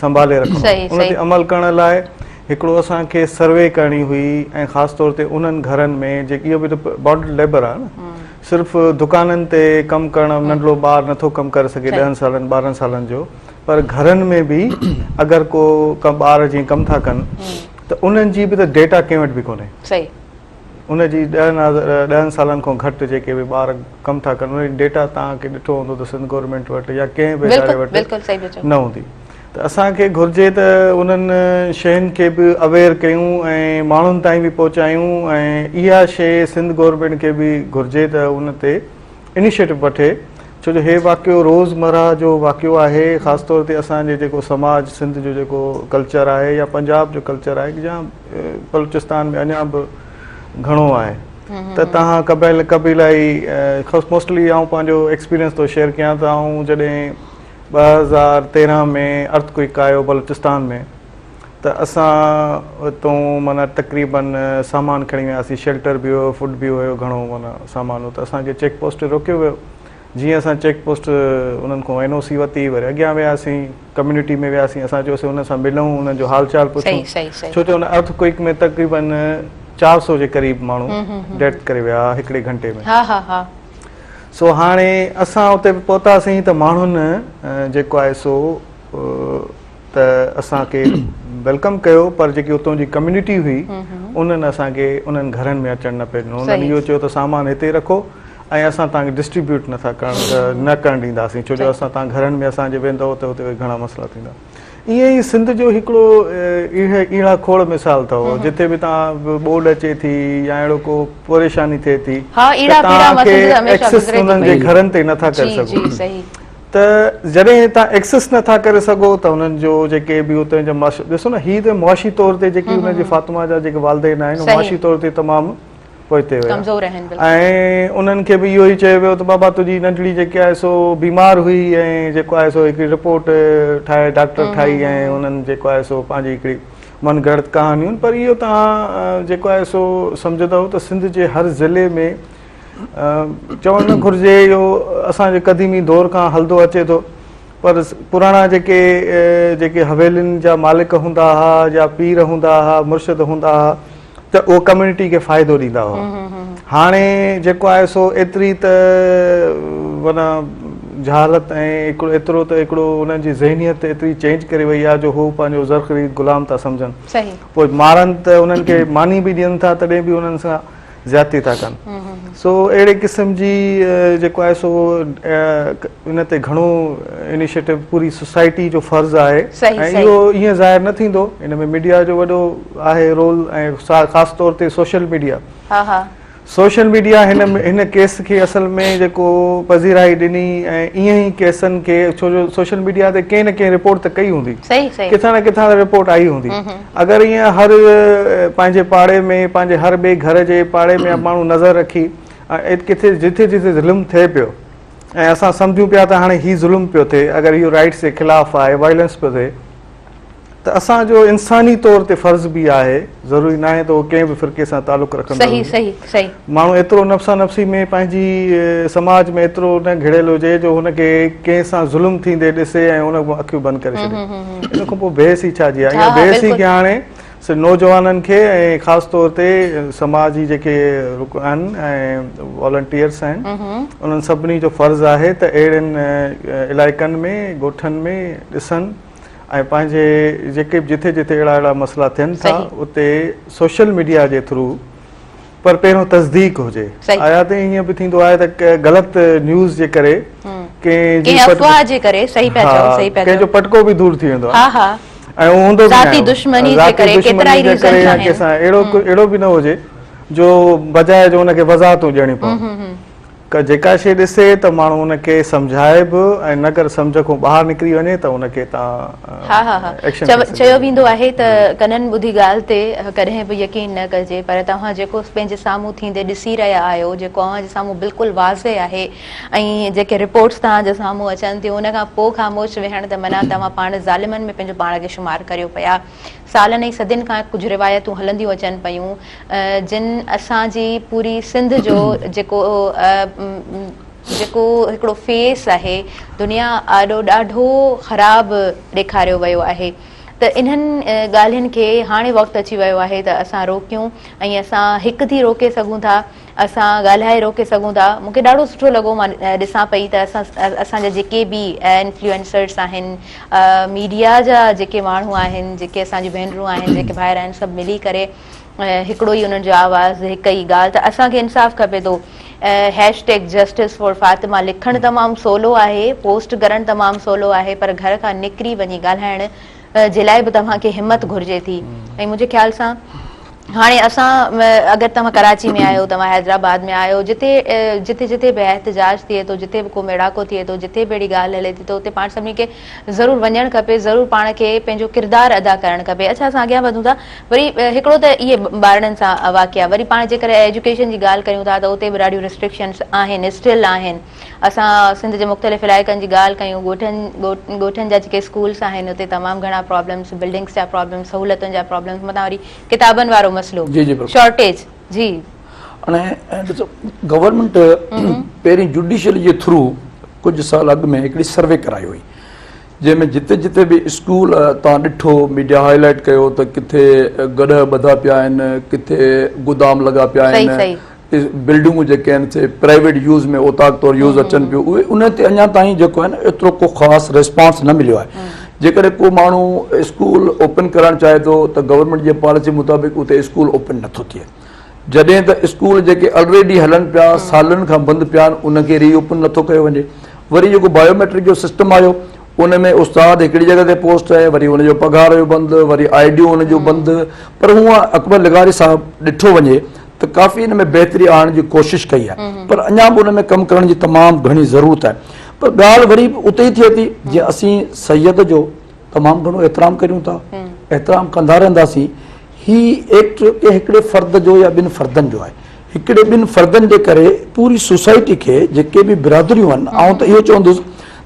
سنڀالي رکڻو آهي ان تي عمل ڪرڻ لاء هڪڙو اسان کي سروي ڪرڻي هئي ۽ خاص طور تي انهن گهرن ۾ جيڪي اهو به ته بانڊ ليبر آهي نه صرف دڪانن تي ڪم ڪرڻ ننڍڙو ٻار نٿو ڪم ڪري سگهي ڏهن سالن ٻارهن سالن جو پر گهرن ۾ به اگر ڪو ڪا ٻار جيئن ڪم ٿا ڪن ته انهن جي به ته ڊيٽا ڪنهن وٽ به ڪونهي ان جي ڏهن ڏهن سالن کان گهٽ جيڪي به ٻار ڪم ٿا ڪن انهن جي ڊيٽا تان کي ڏٺو هوندو ته سنڌ گورنمينٽ وٽ يا ڪنهن به اداري وٽ نه هوندي ته اسان کي گهرجي ته انهن شين کي به اويئر ڪيون ۽ ماڻهن تائين به پهچايون ۽ اها شي سنڌ گورنمينٽ کي به گهرجي ته ان تي انيشيٽو وٺي ڇو جو هي واقعو روزمرا جو واقعو آهي خاص طور تي اسان جي جيڪو سماج سنڌ جو جيڪو ڪلچر آهي يا پنجاب جو ڪلچر آهي بلوچستان ۾ اڃا به گهڻو آهي ته تهان قبائل قبيلائي موسٽلي آئون پنهنجو ايڪسپيرينس ٿو شيئر ڪيان ته آئون جڏهن ٻه هزار تيرهن ۾ ارٿ ڪوئڪ آيو بلوچستان ۾ ته اسان اتون مانا تقريبن سامان کڻي وياسي شيلٽر به هيو فوڊ به هيو گهڻو مانا سامان هو ته اسان کي چيڪ پوسٽ تي روڪيو ويو جيئن اسان چيڪ پوسٽ انهن کان اين او سي ورتي وري اڳيان وياسين ڪميونٽي ۾ وياسين اسان چيوسين انهن سان ملون انهن جو حال چال پڇون ڇو جو ان ارٿ ڪوئڪ ۾ تقريبن چار سو جي قريب ماڻهو ڊيٿ ڪري ويا هڪڙي گهنٽي ۾ سو هاڻي اسان اتي به پهتاسين ته ماڻهن جيڪو آهي سو ته اسان کي ويلڪم ڪيو پر جيڪي اتون جي ڪميونٽي هئي انهن اسان کي انهن گهرن ۾ اچڻ نه پئي ڏنو انهن اهو چيو ته سامان هتي رکو ۽ اسان توهان کي ڊسٽريبيوٽ نه ٿا ڪرڻ نه ڪرڻ ڏينداسين ڇو جو اسان توهان گهرن ۾ اسان جي ويندؤ ته اتي گهڻا مسئلا ٿيندا ائين ئي سنڌ جو هڪڙو ايڙا کوڙ مثال اٿو جتي به توهان ٻوڏ اچي ٿي يا اهڙو ڪو پريشاني ٿئي ٿي ها ايڙا پيڙا ما سنڌ هميشه گذري ٿي پئي گهرن تي نه ٿا ڪري سگهو جي صحيح ته جڏهن توهان ايڪسس نه ٿا ڪري سگهو ته انهن جو جيڪي به اتي جا ڏسو نه هي ته معاشي طور تي جيڪي انهن جي فاطمه جا جيڪي والدين آهن معاشي طور تي تمام پهتي هيا ۽ انهن کي به اهو ئي چيو ويو ته بابا تنهنجي ننڍڙي جيڪي آهي سو بيمار هئي ۽ جيڪو آهي سو هڪڙي رپورٽ ٺاهي ڊاڪٽر ٺاهي ۽ انهن جيڪو آهي سو پنهنجي هڪڙي من گهڙت ڪهاڻيون پر اهو توهان جيڪو آهي سو سمجهندؤ ته سنڌ جي هر ضلعي ۾ چوڻ نه گهرجي اهو اسان جي قديمي دور کان هلندو اچي ٿو پر پراڻا جيڪي جيڪي حويلين جا مالڪ هوندا هئا يا پير هوندا هئا مرشد هوندا هئا ته اهي ڪميونٽي کي فائدو ڏيندا هئا هاڻي جيڪو آهي سو ايتري ته معنيٰ جهالت ۽ ايترو ته هڪڙو انهن جي ذهنيت ايتري چينج ڪري وئي آهي جو هو پنهنجو زر خريد غلام ٿا سمجهن پوء مارن ته انهن کي ماني به ڏين ٿا تڏهن به انهن سان زيادتي ٿا ڪن سو اهڙي قسم جي جيڪو آهي سو ان تي گهڻو انيشيٽو پوري سوسائٽي جو فرض آهي ۽ اهو ائين ظاهر نه ٿيندو ان ۾ ميڊيا جو وڏو آهي رول ۽ خاص طور تي سوشل ميڊيا سوشل ميڊيا هن هن ڪيس کي اصل ۾ جيڪو پذيرائي ڏني ۽ ايئن ئي ڪيسن کي ڇو جو سوشل ميڊيا تي ڪنهن نه ڪنهن رپورٽ ته ڪئي هوندي ڪٿان نه ڪٿان ته رپورٽ آئي هوندي اگر ايئن هر پنهنجي پاڙي ۾ پنهنجي هر ٻئي گهر جي پاڙي ۾ ماڻهو نظر رکي ڪٿي جتي جتي ظلم ٿئي پيو ۽ اسان سمجهون پيا ته هاڻي هي ظلم پيو ٿئي اگر اهو رائٽس جي خلاف آهي وائلنس پيو ٿئي ته اسان جو انساني طور تي فرض به آهي ضروري ناهي ته هو ڪنهن به فرقي سان تعلق رکندڙ هجي ماڻهو ايترو نفسا نفسي ۾ پنهنجي سماج ۾ ايترو نه گهڙيل هجي جو هن کي ڪنهن سان ظلم ٿيندي ڏسي ۽ ان اکيون بند ڪري ڇڏي ان کان پوء بحث ئي ڇا جي آهي اها بحث ئي ڪيا هاڻي نوجوانن کي ۽ خاص طور تي سماج جي جيڪي رڪ آهن ۽ والنٽيئرس آهن انهن سڀني جو فرض آهي ته اهڙن علائقن ۾ ڳوٺن ۾ ڏسن ۽ پنهنجي جيڪي به جٿي جٿي اهڙا اهڙا مسئلا ٿين ٿا اتي سوشل ميڊيا جي ٿرو پر پهريون تصديق هجي آيا ته ائين به ٿيندو آهي ته غلط نيوز جي ڪري ڪنهن جي افواهه جي ڪري صحيح پيا چئو صحيح پيا چئو ڪنهن جو پٽڪو به دور ٿي ويندو آهي ها ها ۽ هوندو ذاتي دشمني جي ڪري ڪيترائي ريزن ٺاهن ڪيسان اهڙو اهڙو به نه هجي جو بجاء جو ان کي وضاحتون ڏيڻي پون ڪا جيڪا شيء ڏسي ته ماڻهو ان کي سمجهائي به ۽ نه ڪر سمجهه کان ٻاهر نڪري وڃي ته ان کي تان ها ها ها چيو ويندو آهي ته ڪنن ٻڌي ڳالهه تي ڪڏهن به يقين نه ڪجي پر توهان جيڪو پنهنجي سامهون ٿيندي ڏسي رهيا آهيو جيڪو اوهان جي سامهون بلڪل واضح آهي ۽ جيڪي رپورٽس توهان جي سامهون اچن ٿيون ان کان پوء خاموش ويهڻ ته منع توهان پاڻ ظالمن ۾ پنهنجو پاڻ کي شمار ڪريو پيا سالن ۽ صدين کان ڪجهه روايتون هلنديون اچن پيون جن اسان جي پوري سنڌ جو جيڪو جيڪو هڪڙو فيس آهي دنيا آڏو ڏاڍو خراب ڏيکاريو ويو آهي ته انهن ڳالهين کي هاڻي وقت اچي ويو آهي ته اسان روڪيون ۽ اسان هڪ ٿي روڪي سگهون ٿا اسان ڳالهائي روڪي سگهون ٿا. مون کي ڏاڍو سٺو لڳو مان ڏسان پئي ته اسان جا جيڪي به انفلوئنسرس آهن ميڊيا جا جيڪي ماڻهو آهن جيڪي اسان جون ڀينرون آهن جيڪي ڀائر آهن سڀ ملي ڪري هڪڙو ئي انهن جو آواز هڪ ئي ڳالهه ته اسان کي انصاف کپي ٿو hashtag justice for Fatima لکڻ تمام سولو آهي پوسٽ ڪرڻ تمام سولو آهي پر گهر کان نڪري وڃي ڳالهائڻ جي لاء به توهان کي همت گهرجي ٿي ۽ منهنجي خيال سان هاڻي اسان اگر توهان ڪراچي ۾ آهيو توهان حيدرآباد ۾ آهيو جتي جتي جتي به احتجاج ٿئي ٿو جتي به ڪو ميڙاڪو ٿئي ٿو جتي به اهڙي ڳالهه هلي ٿي ته اتي پاڻ سڀني کي ضرور وڃڻ کپي ضرور پاڻ کي پنهنجو ڪردار ادا ڪرڻ کپي اڇا اسان اڳيان وڌون ٿا وري هڪڙو ته اهي ٻارڙن سان واقعا وري پاڻ جيڪڏهن ايجوڪيشن جي ڳالهه ڪريون ٿا ته اتي به ڏاڍيون رسٽرڪشنس آهن اسٽل آهن اسان سنڌ جي مختلف علائقن جي ڳالهه ڪيون ڳوٺن ڳوٺن جا جيڪي اسڪولس آهن اتي تمام گهڻا پرابلمس بلڊنگس جا پرابلمس سهولتن جا پرابلمس متان وري ڪتابن وارو مسئلو شارٽيج جي گورنمينٽ پهرين جوڊيشل جي ٿرو ڪجهه سال اڳ ۾ هڪڙي سروي ڪرائي هئي جنهن ۾ جتي جتي به اسڪول تان ڏٺو ميڊيا هاء لائٽ ڪيو ته ڪٿي گڏهه ٻڌا پيا آهن ڪٿي گودام لڳا پيا آهن بلڊنگون جيڪي آهن سي پرائيويٽ يوز ۾ اوطاق طور يوز اچن پيون اهي ان تي اڃا تائين جيڪو آهي نه ايترو ڪو خاص ريسپانس نه مليو آهي جيڪڏهن ڪو ماڻهو اسڪول اوپن ڪرڻ چاهي ٿو ته گورنمينٽ جي پاليسي مطابق اتي اسڪول اوپن نٿو ٿئي جڏهن ته اسڪول جيڪي آلريڊي هلن پيا سالن کان بند پيا آهن ان کي ري اوپن نٿو ڪيو وڃي وري جيڪو بايوميٽرڪ جو سسٽم آيو ان ۾ استاد هڪڙي جڳهه تي پوسٽ آهي وري ان جو پگهار جو بند وري آئي ڊيون ان جون بند پر هونء اڪبر لغاري صاحب ڏٺو وڃي ته ڪافي ان ۾ بهتري آڻڻ جي ڪوشش ڪئي آهي پر اڃا به ان ۾ ڪم ڪرڻ جي تمام گهڻي ضرورت آهي پر ڳالهه وري به اتي ئي ٿئي ٿي جي اسين سيد جو تمام گهڻو احترام ڪريون ٿا احترام ڪندا رهنداسين هي ايڪٽ ڪنهن هڪڙي فرد جو يا ٻن فردن جو آهي هڪڙي ٻن فردن جي ڪري پوري سوسائٽي کي جيڪي به برادريون آهن آئون ته اهو چوندس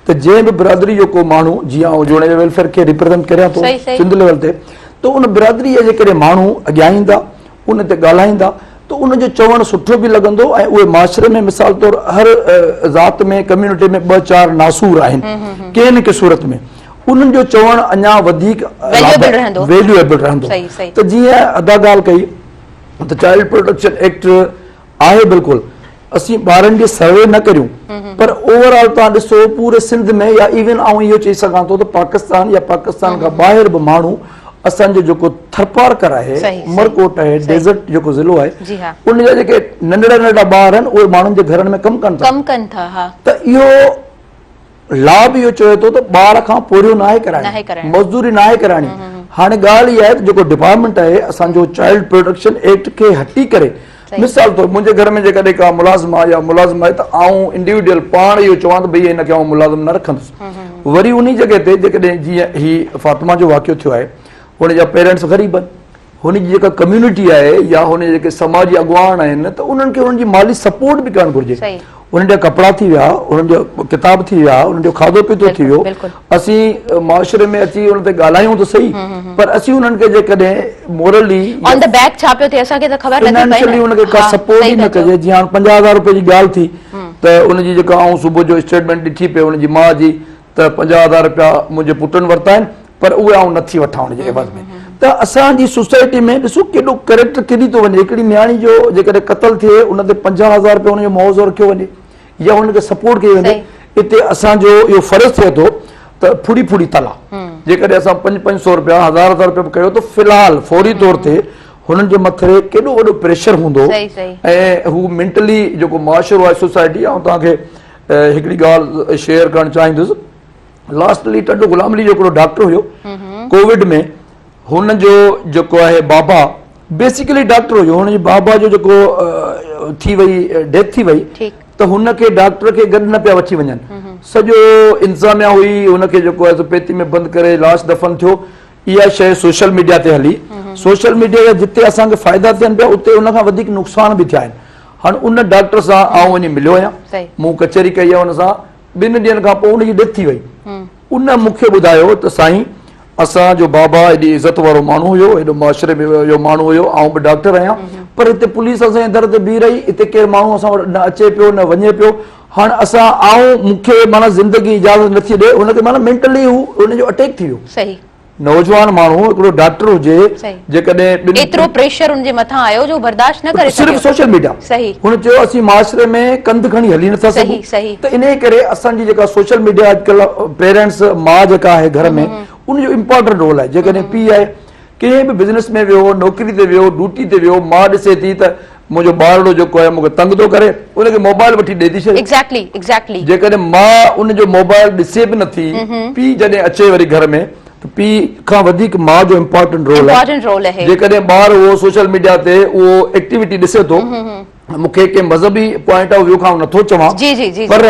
ته جنهن به برادري جو ڪو ماڻهو جي آئون جوڻيجا ويلفيئر کي ريپريزنٽ ڪريان ٿو سنڌ ليول تي ته ان برادري جا جيڪڏهن ماڻهو اڳيان ايندا ان تي ڳالهائيندا ته ان جو چوڻ سٺو به لڳندو ۽ اهي معاشري ۾ مثال طور هر ذات ۾ ڪميونٽي ۾ ٻه چار ناسور آهن ڪنهن نه ڪنهن صورت ۾ انهن جو چوڻ اڃا وڌيڪ ويليوبل رهندو ته جيئن ادا ڳالهه ڪئي ته چائلڊ پروٽيڪشن ايڪٽ آهي بلڪل اسين ٻارن جي سروي نه ڪريون پر اوور آل تان ڏسو پوري سنڌ ۾ يا ايون آئون اهو چئي سگهان ٿو ته پاڪستان يا پاڪستان کان ٻاهر به ماڻهو اسان جو جيڪو ٿرپارڪر آهي مرڪوٽ آهي ڊيزرٽ جيڪو ضلعو آهي ان جا جيڪي ننڍڙا ننڍڙا ٻار آهن اهي ماڻهن جي گهرن ۾ ڪم ڪن ٿا ڪم ڪن ٿا ها ته اهو لا به اهو چوي ٿو ته ٻار کان پورهيو ناهي ڪرائڻي، مزدوري ناهي ڪرائڻي. هاڻي ڳالهه اها آهي ته جيڪو ڊپارٽمينٽ آهي اسان جو چائلڊ پروٽيڪشن ايڪٽ کي هٽي ڪري مثال طور منهنجي گهر ۾ جيڪڏهن ڪا ملازمه يا ملازم آهي ته آئون انڊيوڊيل پاڻ اهو چوان ته ڀئي هن کي آئون ملازم نه رکندس. وري انهي جڳهه تي جيڪڏهن جيئن هي فاطمه جو واقعو ٿيو آهي هن جا پيرنٽس غريب آهن، هن جي جيڪا ڪميونٽي آهي يا هن جا جيڪي سماجي اڳواڻ آهن ته انهن کي انهن جي مالي سپورٽ به ڪرڻ گهرجي. انهن جا ڪپڙا ٿي ويا، انهن جا ڪتاب ٿي ويا، انهن جو کاڌو پيتو ٿي ويو، اسين معاشري ۾ اچي انهن تي ڳالهايون ته صحيح پر اسين انهن کي جيڪڏهن مورلي آن دي بيڪ ڇا پيو ٿئي اسان کي ته خبر نٿي پئي نه. فنانشلي انهن کي ڪا سپورٽ ئي نه ڪجي جيئن هاڻ پنجاهه هزار روپين جي ڳالهه ٿي ته ان جي جيڪا آئون صبح جو اسٽيٽمينٽ ڏٺي پئي ان جي ماء جي. ته پنجاهه هزار رپيا منهنجي پٽن ورتا آهن پر اهي آئون نٿي وٺان ان جي عوض ۾ ته اسان جي سوسائٽي ۾ ڏسو ڪيڏو ڪريڪٽر ڪري ٿو وڃي هڪڙي نياڻي جو جيڪڏهن قتل ٿئي ان تي پنجاهه هزار رپيا ان جو معاوضو رکيو وڃي يا ان کي سپورٽ ڪئي وڃي اتي اسان جو اهو فرض ٿئي ٿو ته ڦڙي ڦڙي تلا جيڪڏهن اسان پنج پنج سو رپيا هزار هزار رپيا به ڪيو ته في الحال فوري طور تي هنن جي مٿري ڪيڏو وڏو پريشر هوندو ۽ هو مينٽلي جيڪو معاشرو آهي سوسائٽي آئون توهان کي هڪڙي ڳالهه شيئر ڪرڻ چاهيندس لاسٽلي ٽنڊو غلام علي جو هڪڙو ڊاڪٽر هيو ڪووڊ ۾ هن جو جيڪو آهي بابا بيسيڪلي ڊاڪٽر هيو هن جي بابا جو جيڪو ٿي وئي ڊيٿ ٿي وئي ته هن کي ڊاڪٽر کي گڏ نه پيا وٺي وڃن سڄو انتظاميا هئي هن کي جيڪو آهي پيتي ۾ بند ڪري لاش دفن ٿيو اها شيء سوشل ميڊيا تي هلي سوشل ميڊيا جا جتي اسان کي فائدا ٿين پيا اتي ان کان وڌيڪ نقصان به ٿيا آهن هاڻ ان ڊاڪٽر سان آئون وڃي مليو آهيان. مون ڪچهري ڪئي آهي ان سان. ٻن ڏينهن کان پوء ان جي ڊيٿ ٿي وئي. ان مون کي ٻڌايو ته سائين اسان جو بابا ايڏي عزت وارو ماڻهو هيو، ايڏو معاشري ۾ ويو ماڻهو هيو، آئون به ڊاڪٽر آهيان پر هتي پوليس اسان جي در تي بيهي رهي، هتي ڪير ماڻهو اسان وٽ نه اچي پيو نه وڃي پيو. هاڻ اسان آئون مون کي معنيٰ زندگي اجازت نٿي ڏئي. ان کي معنيٰ مينٽلي هو ان جو اٽيڪ ٿي ويو. نوجوان ماڻهو هڪڙو ڊاڪٽر هجي جيڪڏهن ٻن ايترو پريشر ان جي مٿان آيو جو برداشت نه ڪري سگهيو صرف سوشل ميڊيا صحيح هن چيو اسين معاشري ۾ ڪنڌ کڻي هلي نه ٿا سگهون صحيح ته انهي ڪري اسان جي جيڪا سوشل ميڊيا اڄڪلهه پيرنٽس ماء جيڪا آهي گهر ۾ ان جو امپورٽنٽ رول آهي جيڪڏهن پيء آهي ڪنهن به بزنس ۾ ويو نوڪري تي ويو ڊوٽي تي ويو ماء ڏسي ٿي ته منهنجو ٻارڙو جيڪو آهي مون کي تنگ ٿو ڪري ان کي موبائل وٺي ڏئي ٿي ڇڏي جيڪڏهن ماء ان جو موبائل ڏسي به نٿي پيء جڏهن اچي وري گهر ۾ ته پيء کان وڌيڪ ماء جو امپورٽنٽ رول آهي جيڪڏهن ٻار اهو سوشل ميڊيا تي اهو ايڪٽيوٽي ڏسي ٿو مون کي ڪنهن مذهبي پوائنٽ آف ويو کان نٿو چوان پر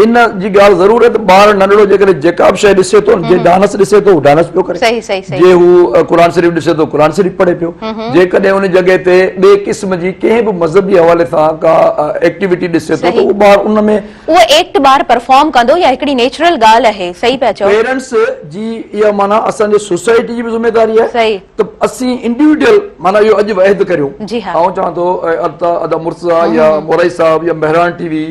ان جي ڳالهه ضرور آهي ته ٻار ننڍڙو جيڪڏهن جيڪا به شيء ڏسي ٿو جي ڊانس ڏسي ٿو هو ڊانس پيو ڪري جي هو قرآن شريف ڏسي ٿو قرآن شريف پڙهي پيو جيڪڏهن ان جڳهه تي ٻئي قسم جي ڪنهن به مذهبي حوالي سان ڪا ايڪٽيوٽي ڏسي ٿو ته هو ٻار ان ۾ اهو ايڪٽ ٻار پرفارم ڪندو يا هڪڙي نيچرل ڳالهه آهي صحيح پيا چئو پيرنٽس جي اها معنيٰ اسان جي سوسائٽي جي به ذميواري آهي ته اسين انڊيوڊيل معنيٰ اهو اڄ عهد ڪريو جي ها آئون چوان ٿو ادا ادا مرتضيٰ يا مورائي صاحب يا مهراڻ ٽي وي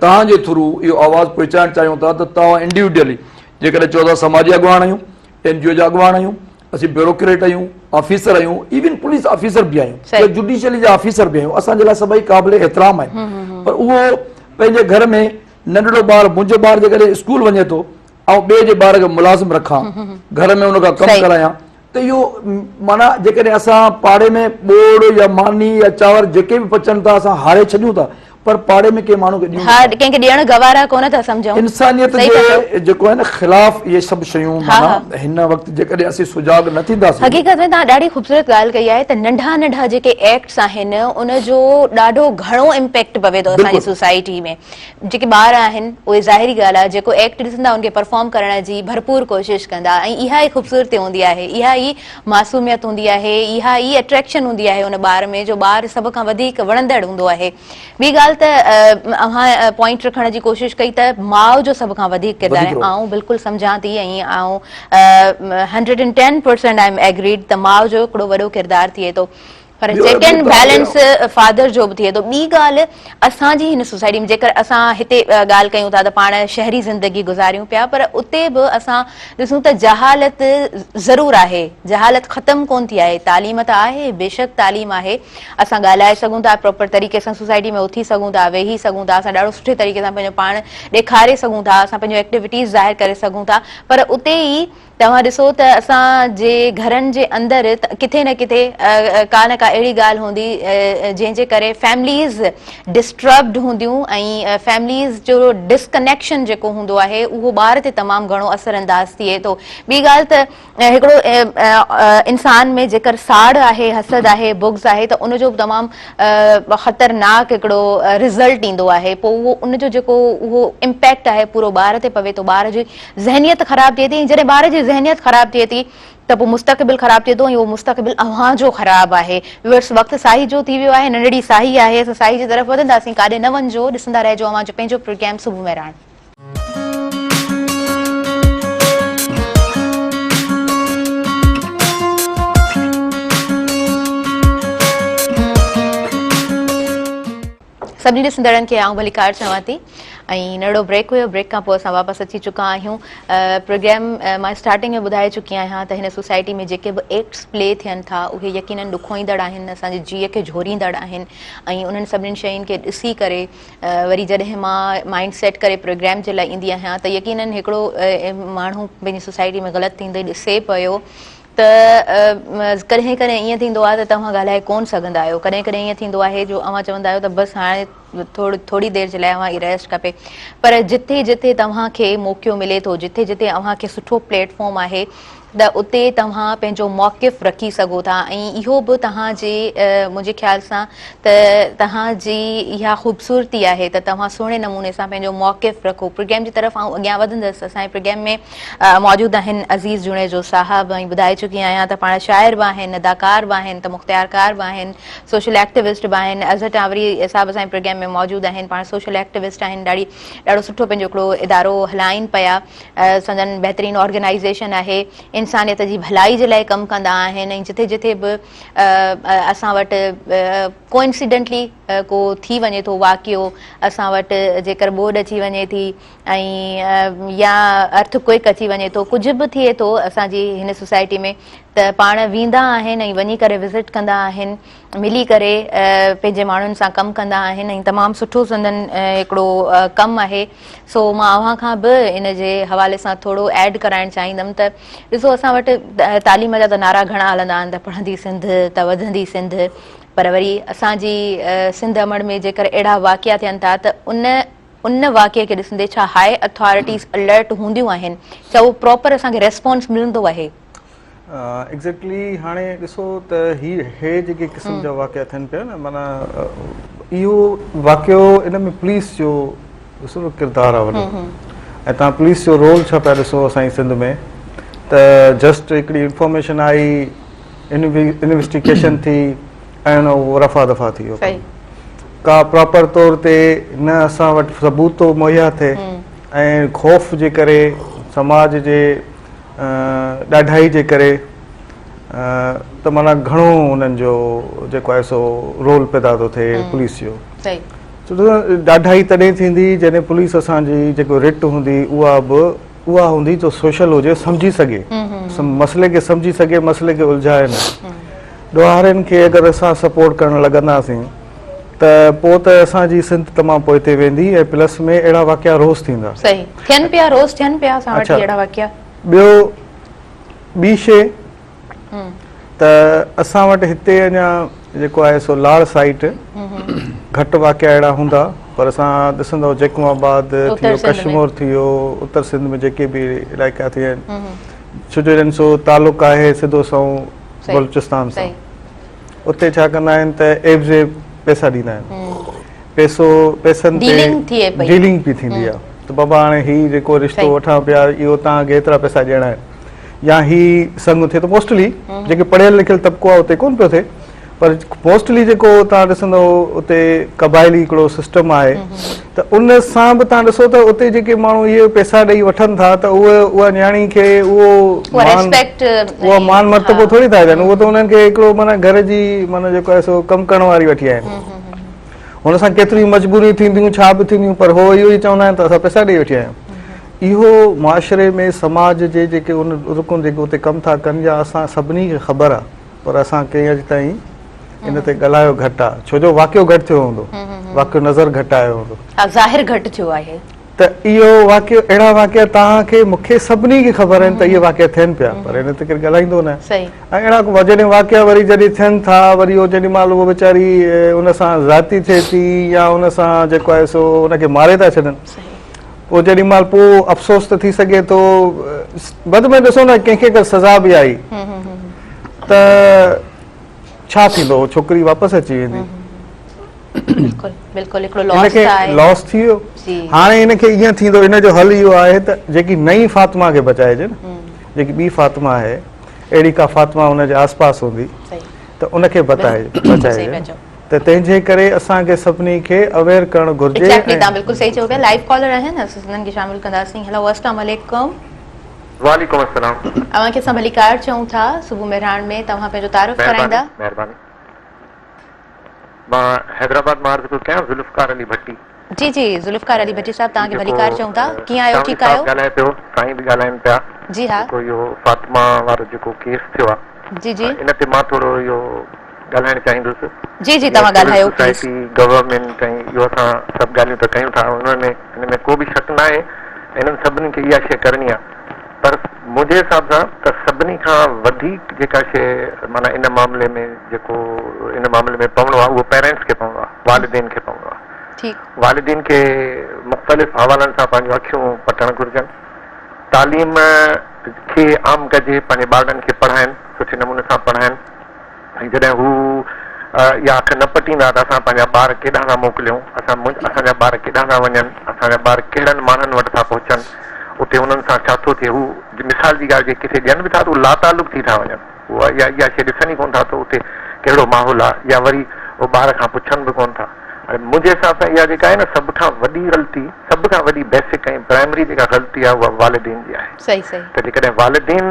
تهان جي ٿرو اهو آواز پهچائڻ چاهيون ٿا ته تهان انڊيوڊيلي جيڪڏهن چئو ٿا سماجي اڳواڻ آهيون اين جي او جا اڳواڻ آهيون اسين بيوروڪريٽ آهيون آفيسر آهيون ايون پوليس آفيسر به آهيون صحيح. جوڊيشلي جا آفيسر به آهيون اسان جي لاء سڀئي قابل احترام آهن پر اهو پنهنجي گهر ۾ ننڍڙو ٻار منهنجو ٻار جيڪڏهن اسڪول وڃي ٿو آئون ٻئي جي ٻار کي ملازم رکان گهر ۾ ان کان ڪم ڪرايان ته اهو معنيٰ جيڪڏهن اسان پاڙي ۾ ٻوڙ يا ماني يا چانور جيڪي به پچن ٿا اسان هاري ڇڏيون ٿا پر پاڙي ۾ ڪنهن ماڻهو کي ڏيون ها ڪنهن کي ڏيڻ گوارا ڪونه ٿا سمجهون انسانيت جي جيڪو آهي نه خلاف اهي سڀ شيون معنيٰ هن وقت جيڪڏهن اسين سجاڳ نه ٿينداسين حقيقت ۾ تان ڏاڍي خوبصورت ڳالهه ڪئي آهي ته ننڍا ننڍا جيڪي ايڪٽس آهن ان جو ڏاڍو گهڻو امپيڪٽ پوي ٿو اسان جي سوسائٽي ۾ جيڪي ٻار آهن اهي ظاهري ڳالهه آهي جيڪو ايڪٽ ڏسندا ان کي پرفارم ڪرڻ جي ڀرپور ڪوشش ڪندا ۽ اها ئي خوبصورتي هوندي آهي اها ئي معصوميت هوندي آهي اها ئي اٽريڪشن هوندي آهي ان ٻار ۾ جو ٻار سڀ کان وڌيڪ وڻندڙ هوندو آهي ٻي ڳالهه ته اوهان پوائنٽ رکڻ جي ڪوشش ڪئي ته ماء جو سڀ کان وڌيڪ ڪردار آهي آئون بلڪل سمجهان ٿي ۽ آئون hundred and ten percent I am agreed ته ماء جو هڪڙو وڏو ڪردار ٿئي ٿو پر چيڪ اينڊ بيلنس فادر جو به ٿئي ٿو ٻي ڳالهه اسان جي هن سوسائٽي ۾ جيڪر اسان هتي ڳالهه ڪيون ٿا ته پاڻ شهري زندگي گذاريون پيا پر اتي به اسان ڏسون ته جهالت ضرور آهي جهالت ختم ڪون ٿي آهي تعليم ته آهي بيشڪ تعليم آهي اسان ڳالهائي سگهون ٿا پراپر طريقي سان سوسائٽي ۾ اٿي سگهون ٿا ويهي سگهون ٿا اسان ڏاڍو سٺي طريقي سان پنهنجو پاڻ ڏيکاري سگهون ٿا اسان پنهنجو ايڪٽيوٽيز ظاهر ڪري سگهون ٿا پر اتي ئي توهان ڏسو ته اسان جي گهرن جي اندر ڪٿي نه ڪٿي ڪا نه ڪا اهڙي ڳالهه هوندي جنهن جي ڪري فيمليز ڊسٽربڊ هونديون ۽ فيمليز جو ڊسڪنيڪشن جيڪو هوندو آهي اهو ٻار تي تمام گهڻو اثر انداز ٿئي ٿو ٻي ڳالهه ته هڪڙو انسان ۾ جيڪر ساڙ آهي حسد آهي بغض آهي ته ان جو به تمام خطرناڪ هڪڙو رزلٽ ايندو آهي پوء اهو ان جو جيڪو اهو امپيڪٽ آهي پورو ٻار تي پوي ٿو ٻار جي ذهنيت خراب ٿئي ٿي ۽ جڏهن ٻار جي ذهنيت خراب ٿئي ٿي ته پوء مستقبل خراب ٿئي ٿو ۽ اهو مستقبل اوهان جو خراب آهي ويورس وقت ساهي جو ٿي ويو آهي ننڍڙي ساهي آهي اسان ساهي جي طرف وڌنداسين ڪاڏي نه وڃجو ڏسندا رهجو اوهان جو پنهنجو پروگرام صبح مهراڻ. سڀني ڏسندڙن کي آئون ڀليڪار چوان ٿي ۽ نرڙو بريڪ هيو بريڪ کان پوء اسان واپس اچي چڪا آهيون پروگرام مان اسٽارٽنگ ۾ ٻڌائي چڪي آهيان ته هن سوسائٽي ۾ جيڪي به ايڪٽس پلي ٿين ٿا اهي يقينن ڏکوئيندڙ آهن اسان جي جيء کي جهوريندڙ آهن ۽ انهن سڀني شين کي ڏسي ڪري وري جڏهن مان مائنڊ سيٽ ڪري پروگرام جي لاء ايندي آهيان ته يقينن هڪڙو ماڻهو پنهنجي سوسائٽي ۾ غلط ٿيندي ڏسي پيو ته ڪڏهن ڪڏهن ائين ٿيندو آهي ته توهان ڳالهائي ڪونه سگهندا آهيو، ڪڏهن ڪڏهن ائين ٿيندو آهي جو اوهان چوندا آهيو ته بس هاڻي ٿوري دير جي لاء اوهان کي ريسٽ کپي پر جتي جتي توهان کي موقعو ملي ٿو، جتي جتي اوهان کي سٺو پليٽ فارم آهي ته اتي توهان پنهنجو موقف رکي سگهو ٿا ۽ اهو به توهان جي منهنجي خيال سان ته توهان جي اها خوبصورتي آهي ته توهان سهڻي نموني سان پنهنجو موقف رکو، پروگرام جي طرف آئون اڳيان وڌندس، اسان جي پروگرام ۾ موجود آهن عزيز جوڻيجو صاحب ۽ ٻڌائي چڪي آهيان ته پاڻ شاعر به آهن اداڪار به آهن ته مختيارڪار به آهن سوشل ايڪٽيوسٽ به آهن اظهر ٽانوري صاحب اسان جي پروگرام ۾ موجود آهن پاڻ سوشل ايڪٽيوسٽ آهن ڏاڙي ڏاڙو سٺو پنهنجو هڪڙو ادارو هلائين پيا سندن بهترين آرگنائيزيشن آهي انسانيت جي ڀلائي جي لاء ڪم ڪندا آهن ۽ جٿي جٿي به اسان وٽ ڪو انسيڊنٽلي ڪو ٿي وڃي ٿو واقعو اسان وٽ جيڪر ٻوڏ اچي وڃي ٿي ۽ يا ارٿ ڪوئڪ اچي وڃي ٿو ڪجهه به ٿئي ٿو اسان جي هن سوسائٽي ۾ ته پاڻ ويندا آهن ۽ وڃي ڪري وزٽ ڪندا آهن ملي ڪري پنهنجي ماڻهن سان ڪم ڪندا آهن ۽ تمام سٺو سندن هڪڙو ڪم آهي سو مان اوهان کان به ان جي حوالي سان ٿورو ايڊ ڪرائڻ چاهيندم ته ڏسو اسان وٽ تعليم جا ته نعرا گهڻا هلندا آهن ته پڙهندي سنڌ ته وڌندي سنڌ پر وري اسان جي سنڌ امڙ ۾ جيڪر اهڙا واقعا ٿين ٿا ته ان ان واقعي کي ڏسندي ڇا هاء اٿارٽيز الرٽ هونديون آهن ڇا اهو پراپر اسان کي ريسپانس ملندو آهي. ايگزيڪٽلي هاڻي ڏسو ته هي هي جيڪي قسم جا واقعا ٿين پيا نه معنيٰ اهو واقعو ان ۾ پوليس جو ڏسو نه ڪردار آهي وڏو ۽ تان پوليس جو رول ڇا پيا ڏسو اسان جي سنڌ ۾ ته جسٽ هڪڙي انفارميشن آئي انويسٽيگيشن ٿي ۽ اهو رفع دفع ٿي ويو ڪا پراپر طور تي نه اسان وٽ ثبوت ٿو مهيا ٿئي ۽ خوف جي ڪري سماج جي ڏاڍائي جي ڪري ته مانا گهڻو انهن جو جيڪو آهي سو رول پيدا ٿو ٿئي پوليس جو ڏاڍائي تڏهن ٿيندي جڏهن پوليس اسان جي جيڪو رٽ هوندي اها به اها هوندي جو سوشل هجي سمجهي سگهي مسئلي کي سمجهي سگهي مسئلي کي الجهائي نه ڏوهارين کي اگر اسان سپورٽ ڪرڻ لڳنداسين ته پوء ته اسان جي سنڌ تمام پوئتي ويندي ۽ پلس ۾ اهڙا واقعا روز ٿيندا صحيح ٿين پيا روز ٿين پيا اسان وٽ اهڙا واقعا ٻيو ٻي شيء ته اسان وٽ هتي اڃا جيڪو آهي سو لاڙ سائيٽ گهٽ واقعا اهڙا هوندا پر اسان ڏسندو جيڪم آباد ٿي ويو ڪشمور ٿي ويو اتر سنڌ ۾ جيڪي به علائقا ٿي ويا آهن ڇو جو انهن سو تعلق آهي سڌو سنئون بلوچستان سان اتي ڇا ڪندا آهن ته ايب زيب پيسا ڏيندا آهن پيسو پيسن تي ڊيلنگ پي ٿيندي آهي ته بابا هاڻي هي جيڪو رشتو وٺان پيا اهو تان کي ايترا پيسا ڏيڻا آهن يا هي سڱ ٿئي ٿو موسٽلي جيڪي پڙهيل لکيل طبقو آهي اتي ڪونه پيو ٿئي پر موسٽلي جيڪو تان ڏسندو اتي قبائلي هڪڙو سسٽم آهي ته ان سان به تان ڏسو ته اتي جيڪي ماڻهو هي پيسا ڏئي وٺن ٿا ته اهي اها نياڻي کي اهو اهو مان مرتبو ٿوري ٿا ڏين اهو ته انهن کي هڪڙو معنيٰ گهر جي معنيٰ جيڪو آهي سو ڪم ڪرڻ واري وٺي آيا آهن هن سان ڪيتريون مجبوريون ٿينديون ڇا به ٿينديون پر هو اهو ئي چوندا آهن ته اسان پئسا ڏئي وٺي آيا آهيون اهو معاشري ۾ سماج جي جيڪي ان رڪن جيڪي اتي ڪم ٿا ڪن يا اسان سڀني کي خبر آهي پر اسان ڪنهن اڄ تائين ان تي ڳالهايو گهٽ آهي ڇو جو واقعو گهٽ ٿيو هوندو واقعو نظر گهٽ آيو هوندو ظاهر گهٽ ٿيو آهي ته اهو واقعو اهڙا واقعا توهان کي مون کي سڀني کي خبر آهن ته اهي واقعا ٿين پيا پر ان تي ڪير ڳالهائيندو نه آهي ۽ اهڙا جڏهن واقعا وري جڏهن ٿين ٿا وري اهو جيڏي مهل اهو ويچاري ان سان زيادتي ٿئي ٿي يا ان سان جيڪو آهي سو ان کي ماري ٿا ڇڏن پوء جيڏي مهل پوء افسوس ته ٿي سگهي ٿو بد ۾ ڏسو نه ڪنهن کي اگر سزا به آئي ته ڇا ٿيندو اهو ڇوڪري واپس اچي ويندي بلڪل بلڪل هڪڙو لاس ته آهي. لاس ٿي ويو هاڻي ان کي ائين ٿيندو ان جو حل اهو آهي ته جيڪي نئين فاطمه کي بچائجي نه جيڪي ٻي فاطمه آهي اهڙي ڪا فاطمه ان جي آس پاس هوندي ته ان کي بچائجي ته تنهن جي ڪري اسان کي سڀني کي اويئر ڪرڻ گهرجي. ايگزيڪٽلي تان بلڪل صحيح چيو پيا لائيو ڪالر آهن اسين انهن کي شامل ڪنداسين هلو اسلام عليڪم. وعليڪم السلام. اوهان کي اسان ڀليڪار چئون ٿا صوبو مهراڻ ۾ توهان پنهنجو تعارف ڪرائيندا. مهرباني مهرباني. مان حيدرآباد مان عرض پيو ڪيان ذوالفقار علي ڀٽي. جي جي ذوالفقار علي ڀٽي صاحب توهان کي ڀليڪار چئون ٿا ڪيئن آهيو ٺيڪ آهيو. سانوڻي صاحب ڳالهائي پيو سائين به ڳالهائين پيا جي ها. جيڪو اهو فاطمه وارو جيڪو ڪيس ٿيو آ جي جي. ان تي مان ٿورو اهو ڳالهائڻ چاهيندس جي جي توهان سول ڳالهايو پليز. سوسائٽي گورنمينٽ ۽ اهو اسان سڀ ڳالهيون ته ڪيون ٿا ان ۾ ان ۾ ڪو به شڪ ناهي ۽ انهن سڀني کي اها شيء ڪرڻي آ. پر منهنجي حساب سان ته سڀني کان وڌيڪ جيڪا شيء معنيٰ ان معاملي ۾ جيڪو ان معاملي ۾ پوڻو آهي اهو پيرينٽس کي پوڻو آهي، والدين کي پوڻو آهي. ٺيڪ. والدين کي مختلف حوالن سان پنهنجون اکيون پٽڻ گهرجن. تعليم کي عام ڪجي، پنهنجي ٻارڙن کي پڙهائين، سٺي نموني سان پڙهائين. ۽ جڏهن هو اها اک نه پٽيندا ته اسان پنهنجا ٻار ڪيڏانهن ٿا موڪليون؟ اسان اسان جا ٻار ڪيڏانهن ٿا وڃن؟ اسان جا ٻار ڪهڙن ماڻهن وٽ ٿا پهچن؟ اتي انهن سان ڇا ٿو ٿئي؟ هو مثال جي ڳالهه جي ڪٿي ڏين به ٿا ته هو لاتعلق ٿي ٿا وڃن. هو اها اها شيء ڏسن ئي ڪونه ٿا ته اتي ڪهڙو ماحول آهي يا وري هو ٻار کان پڇن به ڪونه ٿا. هاڻي منهنجي حساب سان اها جيڪا آهي نه سڀ کان وڏي غلطي، سڀ کان وڏي بيسڪ ۽ پرائمري جيڪا غلطي آهي اها والدين جي آهي. صحيح صحيح. ته جيڪڏهن والدين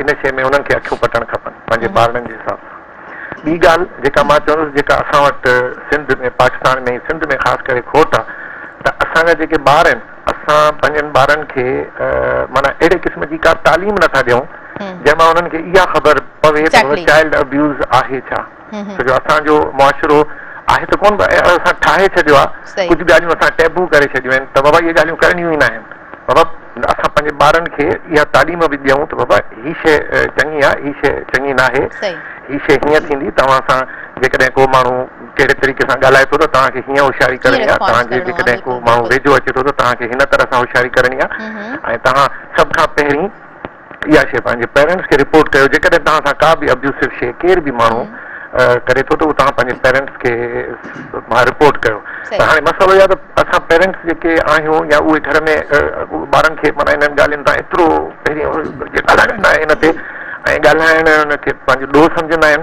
ان شيء ۾ انهن کي اکيون پٽڻ کپن پنهنجي ٻارڙن جي حساب سان. ٻي ڳالهه جيڪا مان چوندس جيڪا اسان وٽ سنڌ ۾ پاڪستان ۾ سنڌ ۾ خاص ڪري کوٽ آ ته اسان جا جيڪي ٻار آهن اسان پنهنجن ٻارن کي معنيٰ اهڙي قسم جي ڪا تعليم نه ٿا ڏيون جنهن مان انهن کي اها خبر پوي ته هو چائلڊ ابيوز آهي ڇا ڇو جو اسان جو معاشرو آهي ته ڪون پر اسان ٺاهي ڇڏيو آ ڪجهه ڳالهيون اسان ٽيبو ڪري ڇڏيون آهن ته بابا اهي ڳالهيون ڪرڻيون ئي ناهن. بابا اسان پنهنجي ٻارن کي اها تعليم به ڏيون ته بابا هي شيء چڱي آهي هي شيء چڱي ناهي هي شيء هيئن ٿيندي توهان سان جيڪڏهن ڪو ماڻهو ڪهڙي طريقي سان ڳالهائي ٿو ته توهان کي هيئن هوشياري ڪرڻي آهي توهان جي جيڪڏهن ڪو ماڻهو ويجهو اچي ٿو ته توهان کي هن طرح سان هوشياري ڪرڻي آهي ۽ توهان سڀ کان پهرين اها شيء پنهنجي پيرنٽس کي رپورٽ ڪيو جيڪڏهن توهان سان ڪا به ابيوسو شيء ڪير به ماڻهو ڪري ٿو ته اهو توهان پنهنجي پيرنٽس کي مان رپورٽ ڪيو ته هاڻي مسئلو اهو آهي ته اسان پيرنٽس جيڪي آهيون يا اهي گهر ۾ ٻارن کي معنيٰ انهن ڳالهين تان ايترو پهرين ڳالهائڻ نه آهي ان تي ۽ ڳالهائڻ ان کي پنهنجو ڏوهه سمجهندا آهن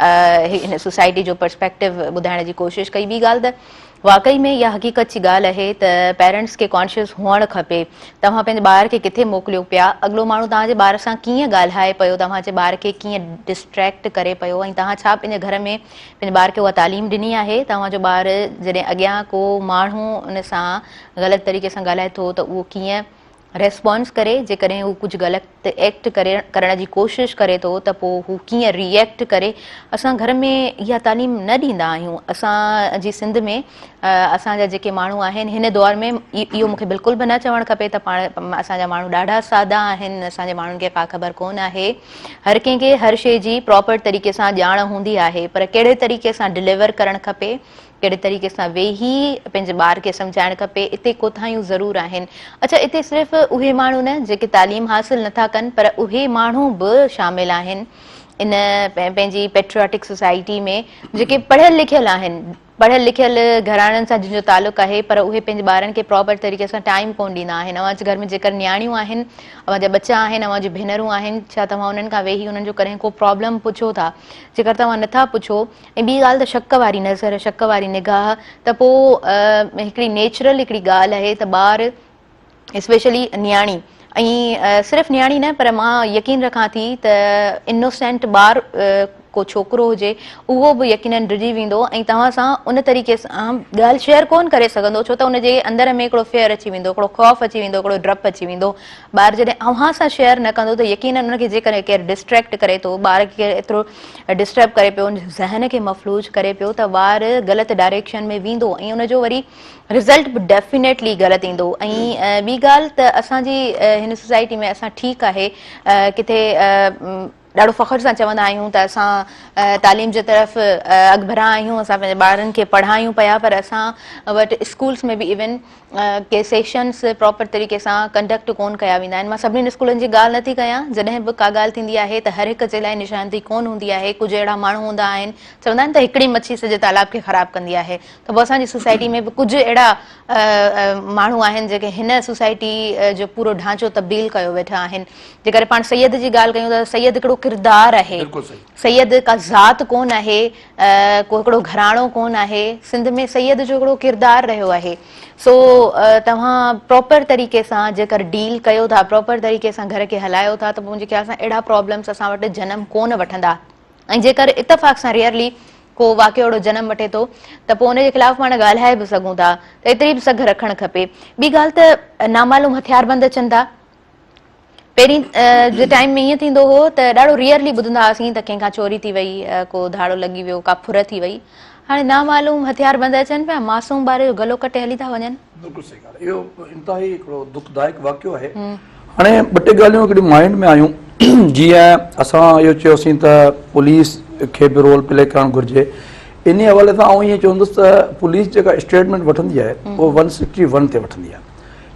هن سوسائٽي جو پرسپيڪٽو ٻڌائڻ جي ڪوشش ڪئي ٻي ڳالهه ته واقعي ۾ اها حقيقت جي ڳالهه اهي ته پيرنٽس کي ڪانشيس هئڻ کپي توهان پنهنجي ٻار کي ڪٿي موڪليو پيا اڳلو ماڻهو توهان جي ٻار سان ڪيئن ڳالهائي پيو توهان جي ٻار کي ڪيئن ڊسٽريڪٽ ڪري پيو ۽ توهان ڇا پنهنجي گهر ۾ پنهنجي ٻار کي اها تعليم ڏني آهي توهان جو ٻار جڏهن اڳيان ڪو ماڻهو ان سان غلط طريقي سان ڳالهائي ٿو ته اهو ڪيئن ريسپانس ڪري جيڪڏهن هو ڪجهه غلط ايڪٽ ڪري ڪرڻ جي ڪوشش ڪري ٿو ته پو هو ڪيئن ري ايڪٽ ڪري اسان گهر ۾ اها تعليم نه ڏيندا آهيون اسان جي سنڌ ۾ اسان جا جيڪي ماڻهو آهن هن دور ۾ اهو مونکي بلڪل به نه چوڻ کپي ته پاڻ اسان جا ماڻهو ڏاڍا سادا آهن اسان جي ماڻهن کي ڪا خبر ڪون آهي هر ڪنهن کي هر شي جي پراپر طريقي سان ڄاڻ هوندي آهي پر ڪهڙي طريقي سان ڊليور ڪرڻ کپي ڪهڙي طريقي سان ويهي پنهنجي ٻار کي سمجهائڻ کپي اتي ڪوتاهيون ضرور آهن اڇا اتي صرف اهي ماڻهو نه جيڪي تعليم حاصل نه ٿا ڪن پر اهي ماڻهو به شامل آهن ان پنهنجي پيٽرياٽڪ سوسائٽي ۾ جيڪي پڙهيل لکيل آهن پڙهيل لکيل گهراڻن سان جن جو تعلق آهي پر اهي پنهنجي ٻارن کي پراپر طريقي سان ٽائيم ڪون ڏيندا آهن اوهان جي گهر ۾ جيڪر نياڻيون آهن اوهان جا ٻچا آهن اوهان جون ڀينرون آهن ڇا توهان انهن کان ويهي انهن جو ڪڏهن ڪو پرابلم پڇو ٿا جيڪر توهان نٿا پڇو ۽ ٻي ڳالهه ته شڪ واري نظر، شڪ واري نگاهه ته پوء هڪڙي نيچرل هڪڙي ڳالهه آهي ته ٻار اسپيشلي نياڻي ۽ صرف نياڻي نه پر مان يقين رکان ٿي ته انوسينٽ ٻار ڪو ڇوڪرو هجي اهو به يقينن ڊڄي ويندو ۽ توهان سان ان طريقي سان ڳالهه شيئر ڪون ڪري سگهندو ڇو ته ان جي اندر ۾ هڪڙو فيئر اچي ويندو هڪڙو خوف اچي ويندو هڪڙو ڊپ اچي ويندو ٻار جڏهن اوهان سان شيئر نه ڪندو ته يقينن ان کي جيڪڏهن ڪير ڊسٽريڪٽ ڪري ٿو ٻار کي ايترو ڊسٽرب ڪري پيو ذهن کي مفلوج ڪري پيو ته ٻار غلط ڊائريڪشن ۾ ويندو ۽ ان جو وري رزلٽ به ڊيفينيٽلي غلط ايندو ۽ ٻي ڳالهه ته اسان جي هن سوسائٽي ۾ اسان ٺيڪ آهي ڪٿي ڏاڍو فخر سان چوندا آهيون ته اسان تعليم جي طرف اڳڀرا آهيون اسان پنهنجي ٻارن کي پڙهايون پيا پر اسان وٽ اسڪولس ۾ به ايون ڪي سيشنز پراپر طريقي سان ڪنڊڪٽ ڪون ڪيا ويندا آهن مان سڀني اسڪولن جي ڳالهه نٿي ڪيان جڏهن به ڪا ڳالهه ٿيندي آهي ته هر هڪ جي لاء نشاندهي ڪون هوندي آهي ڪجهه اهڙا ماڻهو هوندا آهن چوندا آهن ته هڪڙي مڇي سڄي تالاب کي خراب ڪندي آهي ته پوء اسان جي سوسائٽي ۾ به ڪجهه اهڙا ماڻهو آهن جيڪي هن سوسائٽي جو پورو ڍانچو تبديل ڪيو ويٺا آهن جي ڪري پاڻ سيد جي ڳالهه ڪيون ته سيد هڪڙو ڪردار آهي سيد ڪا ذات ڪون آهي ڪو هڪڙو گهراڻو ڪونه آهي سنڌ ۾ سيد جو هڪڙو ڪردار رهيو آهي سو توهان پراپر طريقي سان جيڪر ڊيل ڪيو ٿا پراپر طريقي سان گهر کي هلايو ٿا ته منهنجي خيال سان اهڙا پرابلمس اسان وٽ جنم ڪونه وٺندا ۽ جيڪر اتفاق سان ريئرلي ڪو واقعو اهڙو جنم وٺي ٿو ته پوء ان جي خلاف پاڻ ڳالهائي به سگهون ٿا ته ايتري به سگهه رکڻ کپي ٻي ڳالهه ته نامعلوم هٿياربند اچن ٿا پهرين جي ٽائيم ۾ ائين ٿيندو هو ته ڏاڍو ريئرلي ٻڌندا هئاسين ته ڪنهن کان چوري ٿي وئي ڪو ڌاڙو لڳي ويو ڪا ڦر ٿي وئي هاڻي نامعلوم هٿيار بند اچن پيا معصوم ٻاري جو گلو ڪٽي هلي ٿا وڃن بلڪل صحيح ڳالهه اهو انتهائي هڪڙو دک دائڪ واقعو آهي هاڻي ٻه ٽي ڳالهيون هڪڙيون مائنڊ ۾ آيون جيئن اسان اهو چيوسين ته پوليس کي به رول پلي ڪرڻ گهرجي انهي حوالي سان آئون ائين چوندس ته پوليس جيڪا اسٽيٽمينٽ وٺندي آهي اهو ون سڪسٽي ون تي وٺندي آهي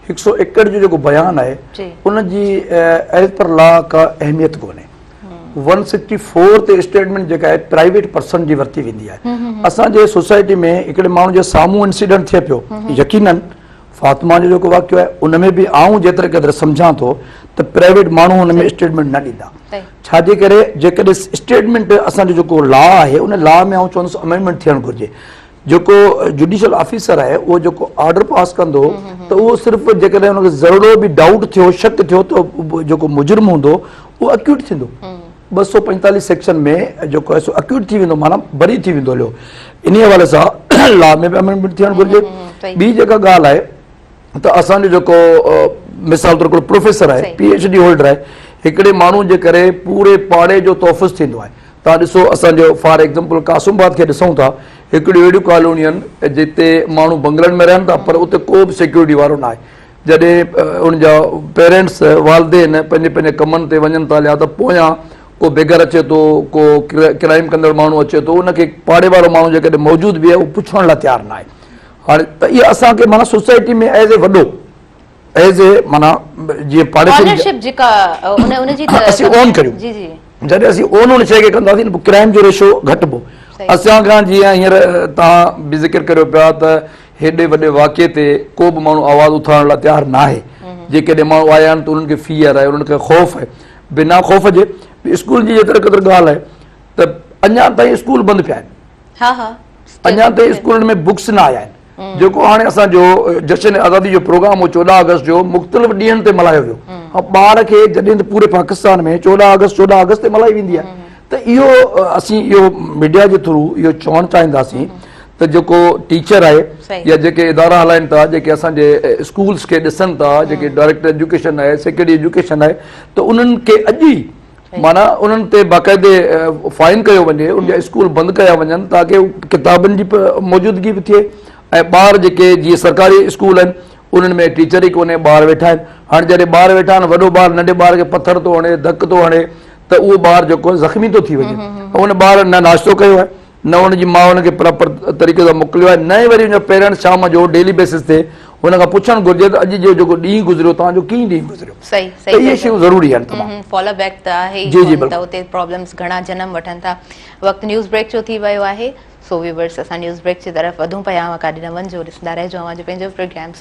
هڪ سؤ ايڪڙ جو جيڪو بيان آهي ان جي ايز پر لا ڪا اهميت ڪونهي ون سڪسٽي فور تي اسٽيٽمنٽ جيڪا آهي پرائيويٽ پرسن جي ورتي ويندي آهي اسان جي سوسائٽي ۾ هڪڙي ماڻهو جي سامهون انسيڊنٽ ٿئي پيو يقينن فاطمه جو جيڪو واقعو آهي ان ۾ به آئون جيتري قدر سمجھان ٿو ته پرائيويٽ ماڻهو ان ۾ اسٽيٽمنٽ نه ڏيندا ڇاجي ڪري جيڪڏهن اسٽيٽمنٽ اسان جو جيڪو لا آهي ان لا ۾ آئون چوندس امينڊمنٽ ٿيڻ گهرجي جيڪو جڊيشل آفيسر آهي اهو جيڪو آرڊر پاس ڪندو ته اهو صرف جيڪڏهن ان کي ذرڙو به ڊائوٽ ٿيو شڪ ٿيو ته جيڪو مجرم هوندو اهو اڪيوٽ ٿيندو ٻه سؤ پنجتاليس سيڪشن ۾ جيڪو آهي سو اڪيوٽ ٿي ويندو معنيٰ بري ٿي ويندو هليو انهي حوالي سان لا ۾ به امينڊمينٽ ٿيڻ گهرجي ٻي جيڪا ڳالهه آهي ته اسانجو جيڪو مثال طور هڪڙو پروفيسر آهي پي ايڇ ڊي هولڊر آهي هڪڙي ماڻهو جي ڪري پوري پاڙي جو تحفظ ٿيندو آهي توهان ڏسو اسان جو فار ايگزامپل قاسم آباد کي ڏسون ٿا هڪڙيون اهڙيون ڪالونيون آهن جتي ماڻهو بنگلن ۾ رهن ٿا پر اتي ڪو به سيڪيورٽي وارو ناهي جڏهن ان جا پيرينٽس والدين پنهنجي پنهنجي ڪمن تي وڃن ٿا ليا ته پويان ڪو بيگر اچي ٿو ڪو ڪرائيم ڪندڙ ماڻهو اچي ٿو ان کي پاڙي وارو ماڻهو جيڪڏهن موجود به آهي اهو پڇڻ لاء تيار ناهي هاڻي ته اها اسان کي مانا سوسائٽي ۾ ايز اي وڏو ايز اي معنيٰ جيئن پاڙي کي آنرشپ جيڪا ان جي ته اسين اون ڪريون جي جي جڏهن اسين اون ان شيء کي ڪنداسين پوء ڪرائم جو ريشو گهٽبو اسان کان جيئن هينئر تان به ذڪر ڪريو پيا ته هيڏي وڏي واقعي تي ڪو به ماڻهو آواز اٿارڻ لاء تيار نه آهي جيڪڏهن ماڻهو آيا آهن ته انهن کي فيئر آهي انهن کي خوف آهي بنا خوف جي اسڪول جي جيتري قدر ڳالهه آهي ته اڃا تائين اسڪول بند پيا آهن ها ها اڃا تائين اسڪولن ۾ بڪس نه آيا آهن جيڪو هاڻي اسان جو جشن آزادي جو پروگرام هو چوڏهن آگسٽ جو مختلف ڏينهن تي ملهايو ويو ۽ ٻار کي جڏهن ته پوري پاڪستان ۾ چوڏهن آگسٽ چوڏهن آگسٽ تي ملهائي ويندي آهي ته اهو اسين اهو ميڊيا جي ٿرو اهو چوڻ چاهينداسين ته جيڪو ٽيچر آهي يا جيڪي ادارا هلائن ٿا جيڪي اسان جي اسڪولس کي ڏسن ٿا جيڪي ڊائريڪٽر ايجوڪيشن آهي سيڪريٽري ايجوڪيشن آهي ته انهن کي اڄ ئي معنيٰ انهن تي باقاعدي فائن ڪيو وڃي ان جا اسڪول بند ڪيا وڃن تاڪه ڪتابن جي موجودگي به ٿئي ۽ ٻار جيڪي جيئن سرڪاري اسڪول آهن انهن ۾ ٽيچر ئي ڪونهي ٻار ويٺا آهن هاڻي جڏهن ٻار ويٺا آهن وڏو ٻار ننڍي ٻار کي پٿر ٿو هڻي ڌڪ ٿو هڻي ته اهو ٻار جيڪو زخمي ٿو ٿي وڃي ته ان ٻار نه ناشتو ڪيو آهي نه ان جي ماء ان کي پراپر طريقي سان موڪليو آهي نه ئي وري ان جو پيرنٽس شام جو ڊيلي بيسس تي ان کان پڇڻ گهرجي ته اڄ جو جيڪو ڏينهن گذريو توهان جو ڪيئن ڏينهن گذريو ته اهي شيون ضروري آهن تمام فالو بيڪ ته آهي ئي جي جي بلڪل ته اتي پرابلمس گهڻا جنم وٺن ٿا وقت نيوز بريڪ جو ٿي ويو آهي سو ويورس اسان نيوز بريڪ جي طرف وڌون پيا اوهان ڪاڏي نه وڃجو ڏسندا رهجو اوهان جو پنهنجو پروگرام